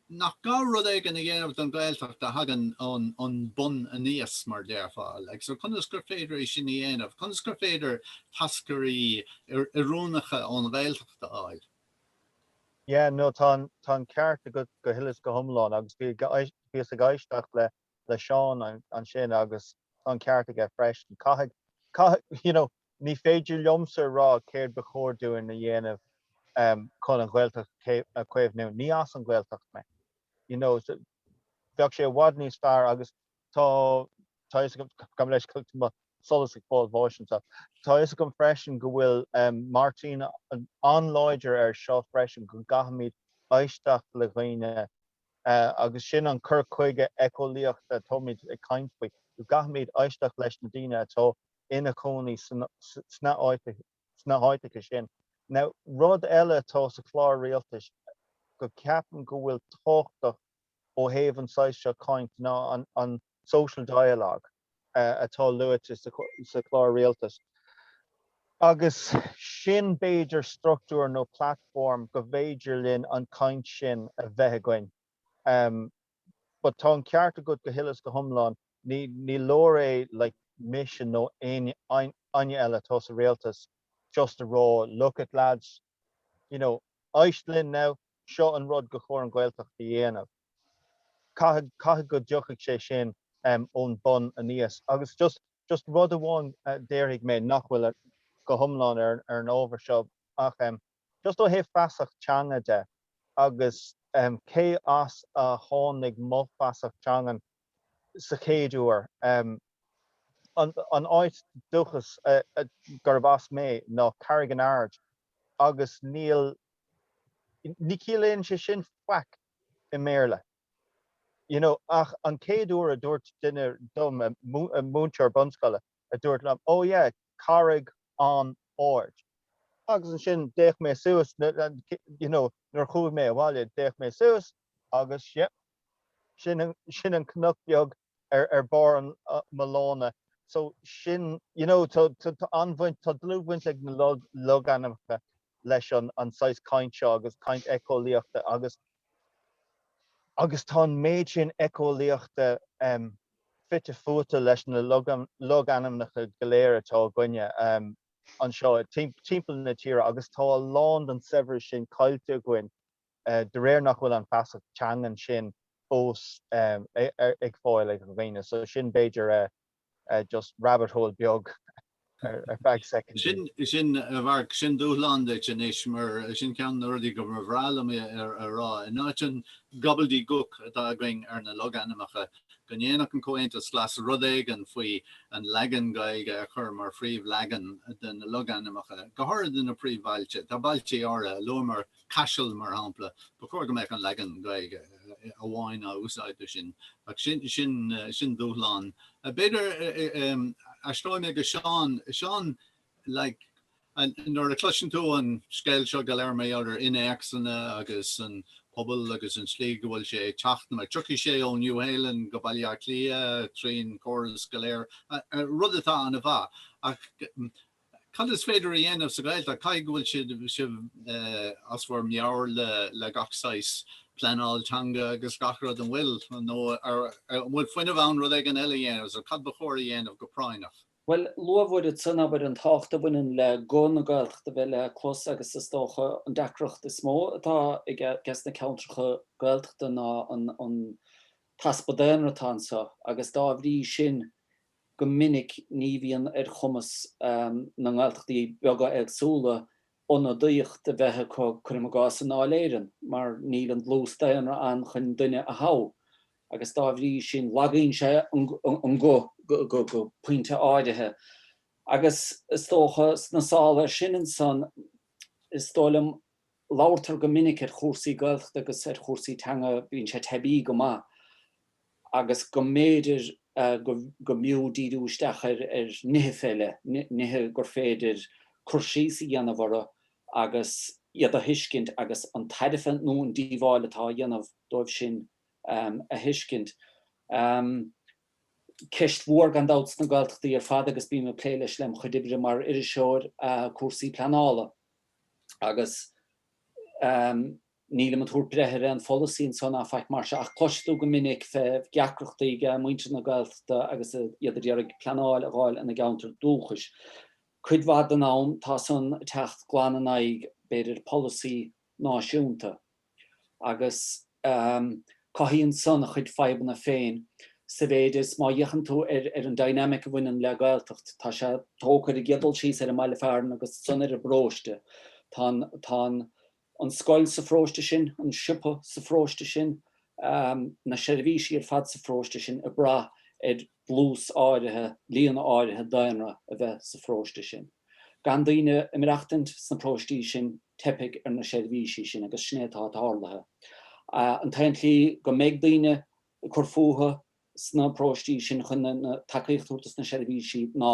nach gá rud éigin a dhéanamh don Ghaeltacht a thagann ón mbonn aníos, mar déarfá. Like, so conas gur féidir é sin a dhéanamh? Conas gur féidir táscairí oiriúnacha ón Ghaeltacht a fháil? Yeah, no, tá an ceart agat go huile is go hiomlán. Agus bhíos ag éisteacht le Seán ansin agus tá an ceart aige freisin. Caithfidh, you know, Ní féidir liomsa a rá céard ba chóir dúinn a dhéanamh chun an Ghaeltacht a chaomhnú. Ní as an Ghaeltacht mé. You know, bheadh sé i bhfad níos fearr agus tá tá a fhios agam tá mé leis tá mo solas ag fáil bháis anseo. Tá a fhios agam freisin go bhfuil Máirtín an-láidir air seo freisin go gcaithfimid éisteacht le dhaoine agus sin an cur chuige eiceolaíochta atáimid ag caint faoi, go gcaithfimid éisteacht leis na daoine atá ina cónaí sna háiteacha sin. Now, rud eile atá sa chlár rialtais go ceapaim go bhfuil tábhachtach ó thaobh an saghas seo caint ná an social dialogue atá luaite sa chlár rialtais agus sin b'fhéidir struchtúr nó platform go mb'fhéidir linn an caint sin a bheith againn. but tá an ceart agat go huile is go hiomlán, ní leor é, like, mise nó éinne eile atá sa rialtas just a rá look it lads, you know, éist linn now, seo an rud gur chóir an Ghaeltacht a dhéanamh. Caithfidh go dtiocfaidh sé sin ón bun aníos agus just, just rud amháin déarfaidh mé nach bhfuil go hiomlán ar an ábhar seo ach, just ó thaobh feasacht teanga de agus cé as a tháinig mo fheasacht teangan sa chéad uair, an áit dúchas gurb as mé ná Carraig an Aird agus níl, ní chiallaíonn sé sin faic i mBéarla, you know, ach an chéad uair a dúirt duine dom, múinteoir bunscoile. a dúirt liom, Oh yeah, carraig an-ard. Agus ansin d'fhéach mé suas, you know, nuair a chuaigh mé abhaile d'fhéach mé suas agus yep, sin, sin an cnoc beag ar, ar barr mo lána. So sin, you know, tá, tá an-bhaint, tá dlúthbhaint ag na logainmneacha leis an saghas caint seo agus caint eiceolaíochta agus agus tá an méid sin eiceolaíochta fite fuaite leis na logainmneacha go léir atá againne anseo timpeall na tíre agus tá a lán den saibhreas sin caillte againn de réir nach bhfuil an feasacht teangan sin fós ar fáil ag daoine so sin b'fhéidir. just rabbit hole beag ar feadh soicindí. Sin, a Mharc, sin dúshlán duit anois, mar sin ceann de na rudaí go mba bhreá liom é a rá, in áit an gobbledegook atá againn ar na logainmneacha, go ndéanfadh an Comhaontas Glas rud éigin faoi an leagan Gaeilge a chur mar phríomhleagan de na logainmneacha, go háirithe na príomhbhailte. Tá bailte áirithe, luamar Caiseal, mar shampla, ba chóir go mbeadh an leagan Gaeilge amháin á úsáid do sin, ach sin dúshlán. B'fhéidir, aistreoidh mé go Seán. Seán, like, nuair a chloiseann tú an scéal seo go léir maidir le innéacsanna agus an pobal agus an slí go bhfuil sé ag teacht, mar tiocfaidh sé ó Nua-Shéalainn go Baile Átha Cliath tríd an chóras go léir, rud atá an-mhaith, ach Cad is féidir a dhéanamh sa Ghaeltacht? Caithfidh go bhfuil sibh as bhur meabhair le gach saghas pleanáil teanga agus gach rud, an bhfuil? Nó an bhfuil fuinneamh ann rud éigin eile a dhéanamh? Cad ba chóir a dhéanamh go práinneach? Bhuel, luadh ansan, abair, an tábhacht a bhaineann le guth na Gaeltachta a bheith le clos agus is dócha an deacracht is mó atá ages na ceantracha Gaeltachta ná an easpa daonra atá anseo agus dá bhrí sin, go minic ní bhíonn ar chumas na nGaeltachtaí beaga éagsúla ionadaíocht a bheith acu, cuirim i gcás, i nDáil Éireann, mar níl an dlús daonra ann chun duine a thoghadh, agus dá bhrí sin lagaíonn sé an guth go pointe áirithe. Agus is dócha, sna sála air sin ansan, is dóigh liom, Labhartar go minic ar chúrsaí Gaeltachta agus ar chúrsaí teanga, bíonn sé teibí go maith, agus go mb'fhéidir go mb'fhiú díriú isteach ar nithe eile, nithe gur féidir cur síos a dhéanamh orthu agus iad a thuiscint agus an tairbhe nó an díobháil atá á dhéanamh dóibh sin a thuiscint. Ceist mhór gan dabht sna Gaeltachtaí ar fad, agus bím ag plé leis lem' chuid oibre mar iriseoir, cúrsaí pleanála. agus nílim ag tabhairt breithe ar aon pholasaí ansan a fhaic mar sin, ach cloiseann tú go minic fé dheacrachtaí ag muintir na Gaeltachta agus iad ag iarraidh pleanáil a dh'fháil ina gceantar dúchais. Cuid mhaith den am, tá san ag teacht glan in aghaidh, b'fhéidir, polasaí náisiúnta. agus cothaíonn san a chuid fadhbanna féin, sa mhéid is má fhéachann tú ar an dynamic a bhaineann le Gaeltacht, tá sé tógtha ar an gcéad dul síos ar an mbaile fearainn agus ansan ar an bparóiste. Tá an scoil sa pharóiste sin, an siopa sa pharóiste sin, na seirbhísí ar fad sa pharóiste sin ag brath ar dlús áirithe, líon áirithe daonra a bheith sa pharóiste sin. Gan daoine ag maireachtaint sna próistí sin, teipfidh ar na seirbhísí sin agus sin é atá tarlaithe. An t-aon tslí go mbeidh daoine ag cur fúthu sna próistí sin chun an tacaíocht a thabhairt dos na seirbhísí ná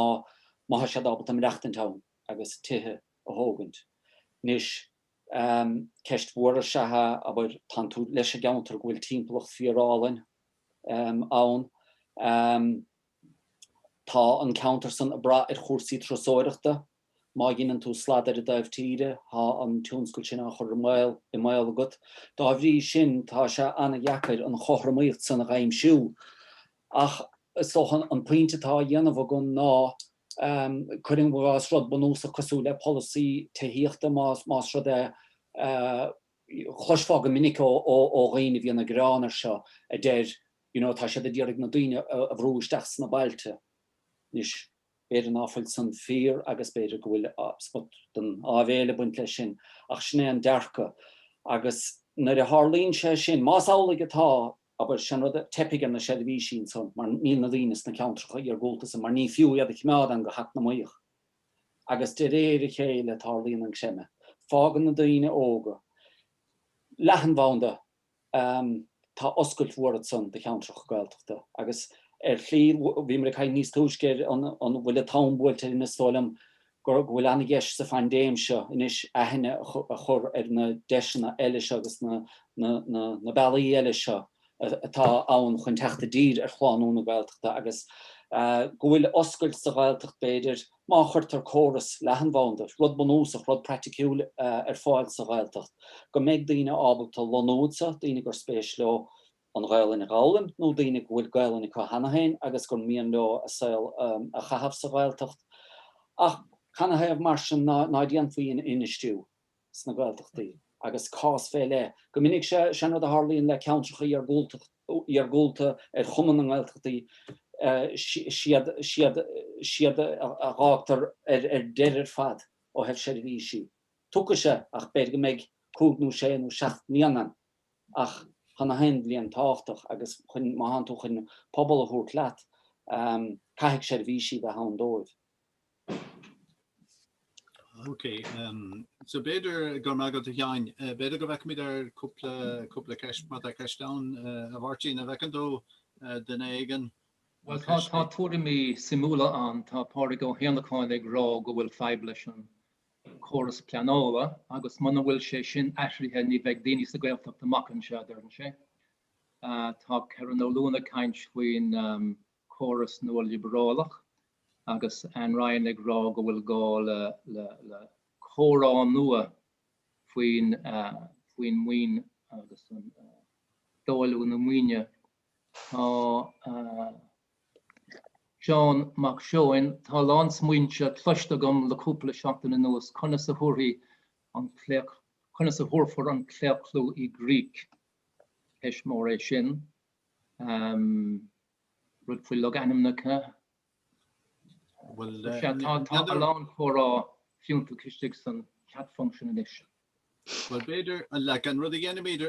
má tá siad ábalta maireachtaint ann agus tithe a thógaint. Anois, ceist mhór is ea é, abair, tánn tú leis i gceantar go bhfuil timpeallacht fíor-álainn ann, Tá an ceantar san ag brath ar chúrsaí turasóireachta. Má dheineann tú slad ar an dtaobh tíre, tá an tionscal sin á chur i mbaol agat. Dá bhrí sin, tá sé an-deacair an chothromaíocht san a dh'aimsiú. Ach is dócha an pointe atá á dhéanamh agam ná, cuirim i gcás, rud bunúsach cosúil le polasaí tithíochta, más rud é, chloisfeá go minic ó dhaoine a bhíonn ag gearán air seo, a deir, you know tá siad ag iarraidh na daoine a bhrú isteach sna bailte anois b'fhéidir ná fuil san fíor agus b'fhéidir go bhfuil smut den áibhéil ag baint leis sin ach sin é an dearcadh agus nuair a tharlaíonn sé sin, más amhlaidh atá, abair, san rud, teipfidh ar na seirbhísí ansan mar níl na daoine sna ceantracha iargúlta san mar ní fiú iad a choimeád ann go heacnamaíoch agus de réir a chéile tarlaíonn an creimeadh, fágann na daoine óga leathanbhanda Tá oscailt mhór ansan do cheantracha Gaeltachta. Agus ar shlí, bhíomar ag caint níos túisce ar an bhfuil an t-am buailte linn, is dóigh liom go bhfuil an-dheis sa phaindéim seo anois aithne a chur ar na deiseanna eile seo agus na bealaí eile seo atá ann chun teacht i dtír ar shlánú na Gaeltachta agus go bhfuil oscailt sa Ghaeltacht b'fhéidir Má chuirtear córas leathanbhanda, rud bunúsach, rud praiticiúil, ar fáil sa Ghaeltacht, go mbeidh daoine ábalta lonnú anseo, daoine gur spéis leo an Ghaelainn a dh'fhoghlaim, nó daoine go bhfuil Gaelainn acu cheana féin agus gur mian leo a saol a chaitheamh sa Ghaeltacht. Ach canathaobh mar sin ná déanfaí infheistiú sna Gaeltachtaí agus cás fé leith. Go minic sé an rud a tharlaíonn le ceantracha iargúlta ar chuma na nGaeltachtaí, siad a dh'fhágtar ar deireadh ar fad ó thaobh seirbhísí. Tiocfaidh sé ach b'fhéidir go mbeidh cúig nó sé nó seacht mbliana air ach tá gach aon bhliain tábhachtach agus má thánn tú chun pobal a thabhairt leat, caithfidh seirbhísí bheith ann dóibh. Ok, so b'fhéidir, go raibh maith agat a Sheáin, b'fhéidir go bhféachfaimid ar cúpla, cúpla ceist, má tá ceist ann, a Mháirtín, a bhfeiceann tú aon cheann éigin? Bhuel, tá, tá tuairimí suimiúla ann. Tá Pádraig Ó hÉanacháin ag rá go bhfuil fadhb leis an córas pleanála agus muna bhfuil sé sin athraithe ní bheidh daoine sa Gaeltacht amach anseo, a deireann sé. Tá Kerron Ó Luain ag caint faoin, córas nualiobrálach agus Ann Ryan ag rá go bhfuil gá le comhrá nua faoin maoin agus athdháiliú na maoine. Tá Seán Mac Seoin, tá a lán smaointe cloiste agam le cúpla seachtain anuas, conas a thabharfaí an claochlú, conas a thabharfar an claochlú i gcrích. Ceist mhór é sin. rud faoi logainmneacha. Tá a lán comhrá fiúntach istigh san chat function anois. Bhuel, b'fhéidir, like, an rud a dhéanfaimid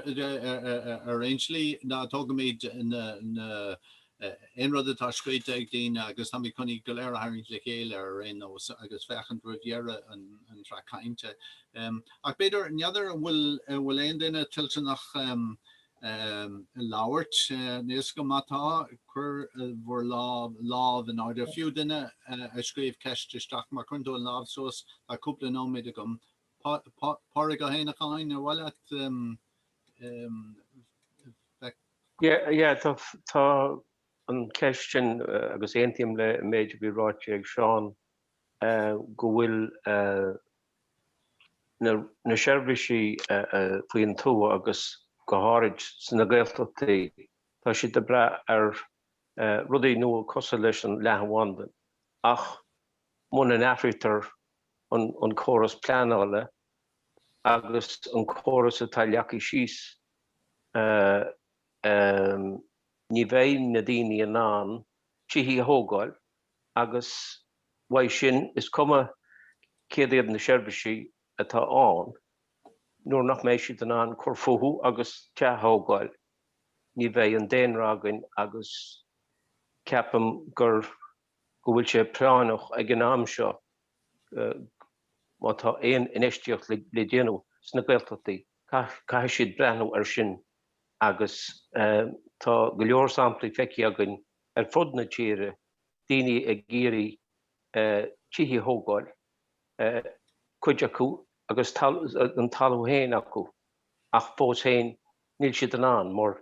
ar aon slí ná tógaimid na, na, aon rud atá scríte ag daoine agus táimid chun iad go léir a tharraingt le chéile ar aon nós agus féachaint roimh dheireadh an, an tsraith cainte. Ach b'fhéidir, n'fheadar an bhfuil, an bhfuil aon duine toilteanach, labhairt linn agus má tá. Cuir bhur lámh, lámh in airde. Fiú duine a scríobh ceist isteach, má chuireann tú an lámh suas, tá cúpla nóiméad agam. Pá, Pá, Pádraig Ó hÉanacháin, ar mhaith leat. Yeah, yeah, tá, tá an ceist sin agus aontaím le an méid a bhí ráite ag Seán go bhfuil na seirbhísí faoin tuath agus go háirid sna Gaeltachtaí, tá siad ag brath ar rudaí nua cosúil leis an leathanbhanda ach muna n-athraítear an córas pleanála agus an córas atá leagtha síos ní bheidh na daoine in ann tithe a thógáil. agus uaidh sin, is cuma céard iad na seirbhísí atá ann, nuair nach mbeidh siad in ann cur fúthu agus teach a thógáil, ní bheidh an daonra againn agus ceapaim gur go bhfuil sé práinneach ag an am seo má tá aon infheistíocht le déanamh sna Gaeltachtaí, caithfidh siad breathnú air sin agus tá go leor samplaí feicthe againn ar fud na tíre, daoine ag iarraidh tithe a thógáil, cuid acu agus an talamh féin acu, ach fós féin níl siad in ann, mar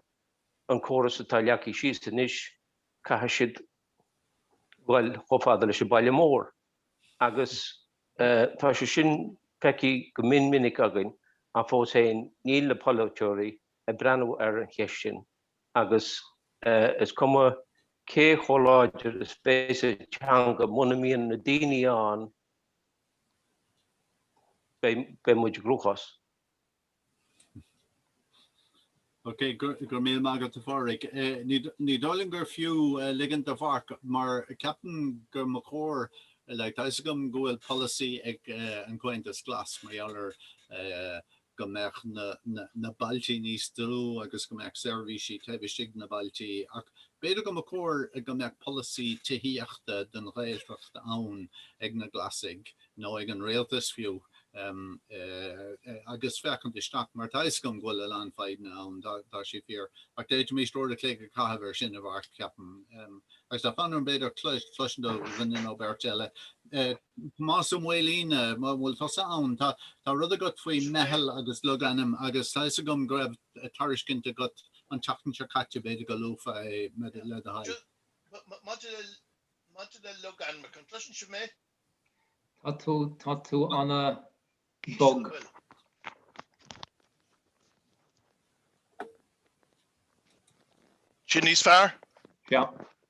an córas atá leagtha síos anois, caithfidh siad dul chomh fada leis an baile mór. Agus tá sé sin feicthe go mion minic againn, ach fós féin níl na polaiteoirí ag breathnú ar an cheist sin. agus is cuma cé chomh láidir is bheas an teanga, muna mbíonn na daoine ann beidh muid i gcruachás. Ok, go raibh míle maith agat a Phádraig. Ní dóigh liom gur fiú ligint do Mharc, mar ceapaim go mba chóir, like tá fhios agam go bhfuil polasaí ag an Comhaontas Glas mar gheall ar go mbeadh na bailtí níos dlú agus go mbeadh seirbhísí taobh istigh de na bailtí ach b'fhéidir go mba chóir go mbeadh polasaí tithíochta don Ghaeltacht ann ag na Glasaigh nó ag an Rialtas fiú agus féachaint isteach mar tá fhios agam go bhfuil a lán fadhbanna ann tá sé fíor ach d'fhéadfaimis uair a chloig a chaitheamh ar sin a Mhairc ceapaim agus tá fonn orm b'fhéidir cloisint ó dhuine nó beirt eile. Tomás Ó Maoilín, An bhfuil tusa ann? Tá rud agat faoi meitheal agus logainm agus tá 'fhios agam go raibh tairiscint agat an tseachtain seo caite, b'fhéidir go luafá é, le do thoil. Maidir le logainmneacha, an gcloiseann sibh mé? Tá tú ana Bog. Sin níos fearr? Yeah.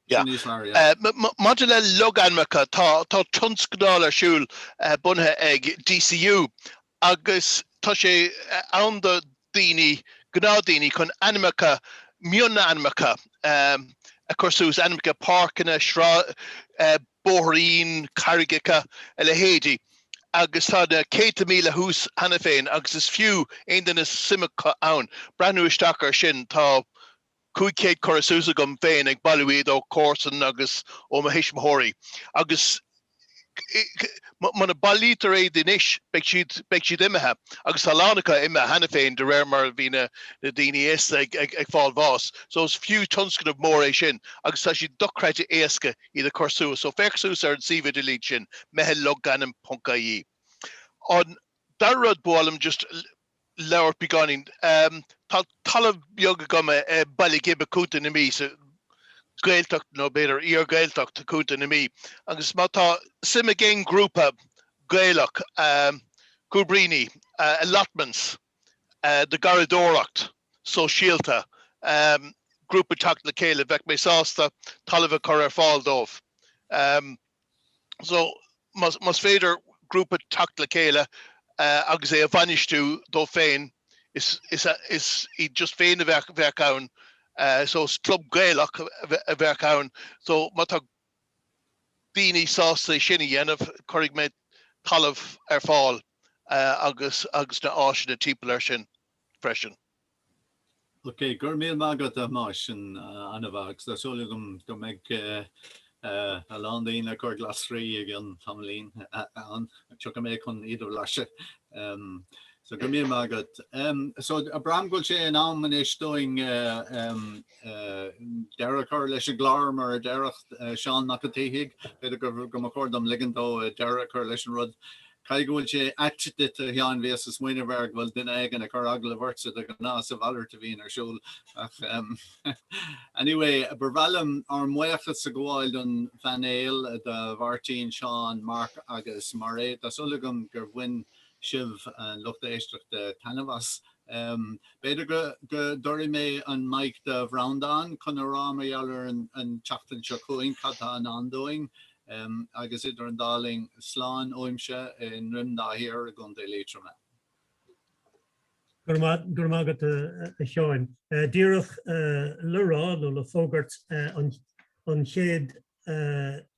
Yeah. Sin níos fearr, yeah. Maidir le logainmneacha, tá tionscadal ar siúl bunaithe ag DCU agus tá sé ann do dhaoine, gnáthdaoine, chun ainmneacha, mionainmneacha, a chur suas, ainmneacha páirceanna, bóithrín, carraigeacha, a leithéidí, agus tá na céadta míle thuas cheana féin agus is fiú aon duine suim acu ann breathnú isteach ar sin. Tá cúig chéad curtha suas agam féin ag bailiú iad ó chomharsan agus ó mo thuismitheoirí agus muna bailítear iad anois beidh siad beidh siad imithe agus tá a lán acu imithe cheana féin de réir mar a bhí na daoine aosta ag fáil bháis. So is fiú tionscnamh mór é sin agus tá sé dochreidte éasca. iad a chur suas. So féach suas ar an suíomh idirlín sin, meitheal logainm ponc ie. An dara rud, ba mhaith liom just labhairt beagáinín, tá talamh beag agam i Baile Ghib, Contae na Mí, sa Ghaeltacht nó b'fhéidir iar-Ghaeltacht Chontae na Mí. Agus má tá suim ag aon ghrúpa Gaelach, Cúibríní, Allotments, do gharraíodóireacht sóisialta, grúpa teacht le chéile, bheadh mé sásta talamh a chur ar fáil dóibh. so más féidir grúpa teacht le chéile agus é a bhainistiú dóibh féin, is iad just féin a bheadh bheadh ann, so is club gaelach a bheadh ann. So má tá daoine sásta é sin a dhéanamh, cuirfidh mé talamh ar fáil agus na áiseanna timpeall ar sin freisin. Ok, go raibh míle maith agat a Thomáis, sin an-mhaith agus tá súil agam go mbeidh a lán daoine ag cur glasraí i gcionn tamaillín ann, tiocfaidh mé chun iad a bhlaiseadh. So go raibh míle maith agat. So abraim go bhfuil sé in am anois dúinn. Deireadh chur leis an gclár mar a déarfadh Seán Mac an tSíthigh, b'fhéidir gur go mba chóir dom ligint dó deireadh a chur leis an rud. Caithfidh go bhfuil sé ait duit, a Sheáin, bhíos ag smaoineamh air go bhfuil duine éigin ag cur agallamh ortsa de ghnáth is a mhalairt a bhíonn ar siúl ach anyway, ba bhreá liom ár mbuíochas a ghabháil don phainéal, do Mháirtín, Seán, Marc agus Mairéad. Tá súil agam gur bhain sibh, an lucht éisteachta, taitneamh as. B'fhéidir go dtabharfaidh mé an mic do Bhreandán chun a rá mar gheall ar an tseachtain seo chugainn cad tá i ndán dúinn, agus idir an dá linn, slán uaimse i nDroim Dá Thiar i gContae Liatroma. Go raibh maith agat a Sheáin. Díreach le rá nó le fógairt an chéad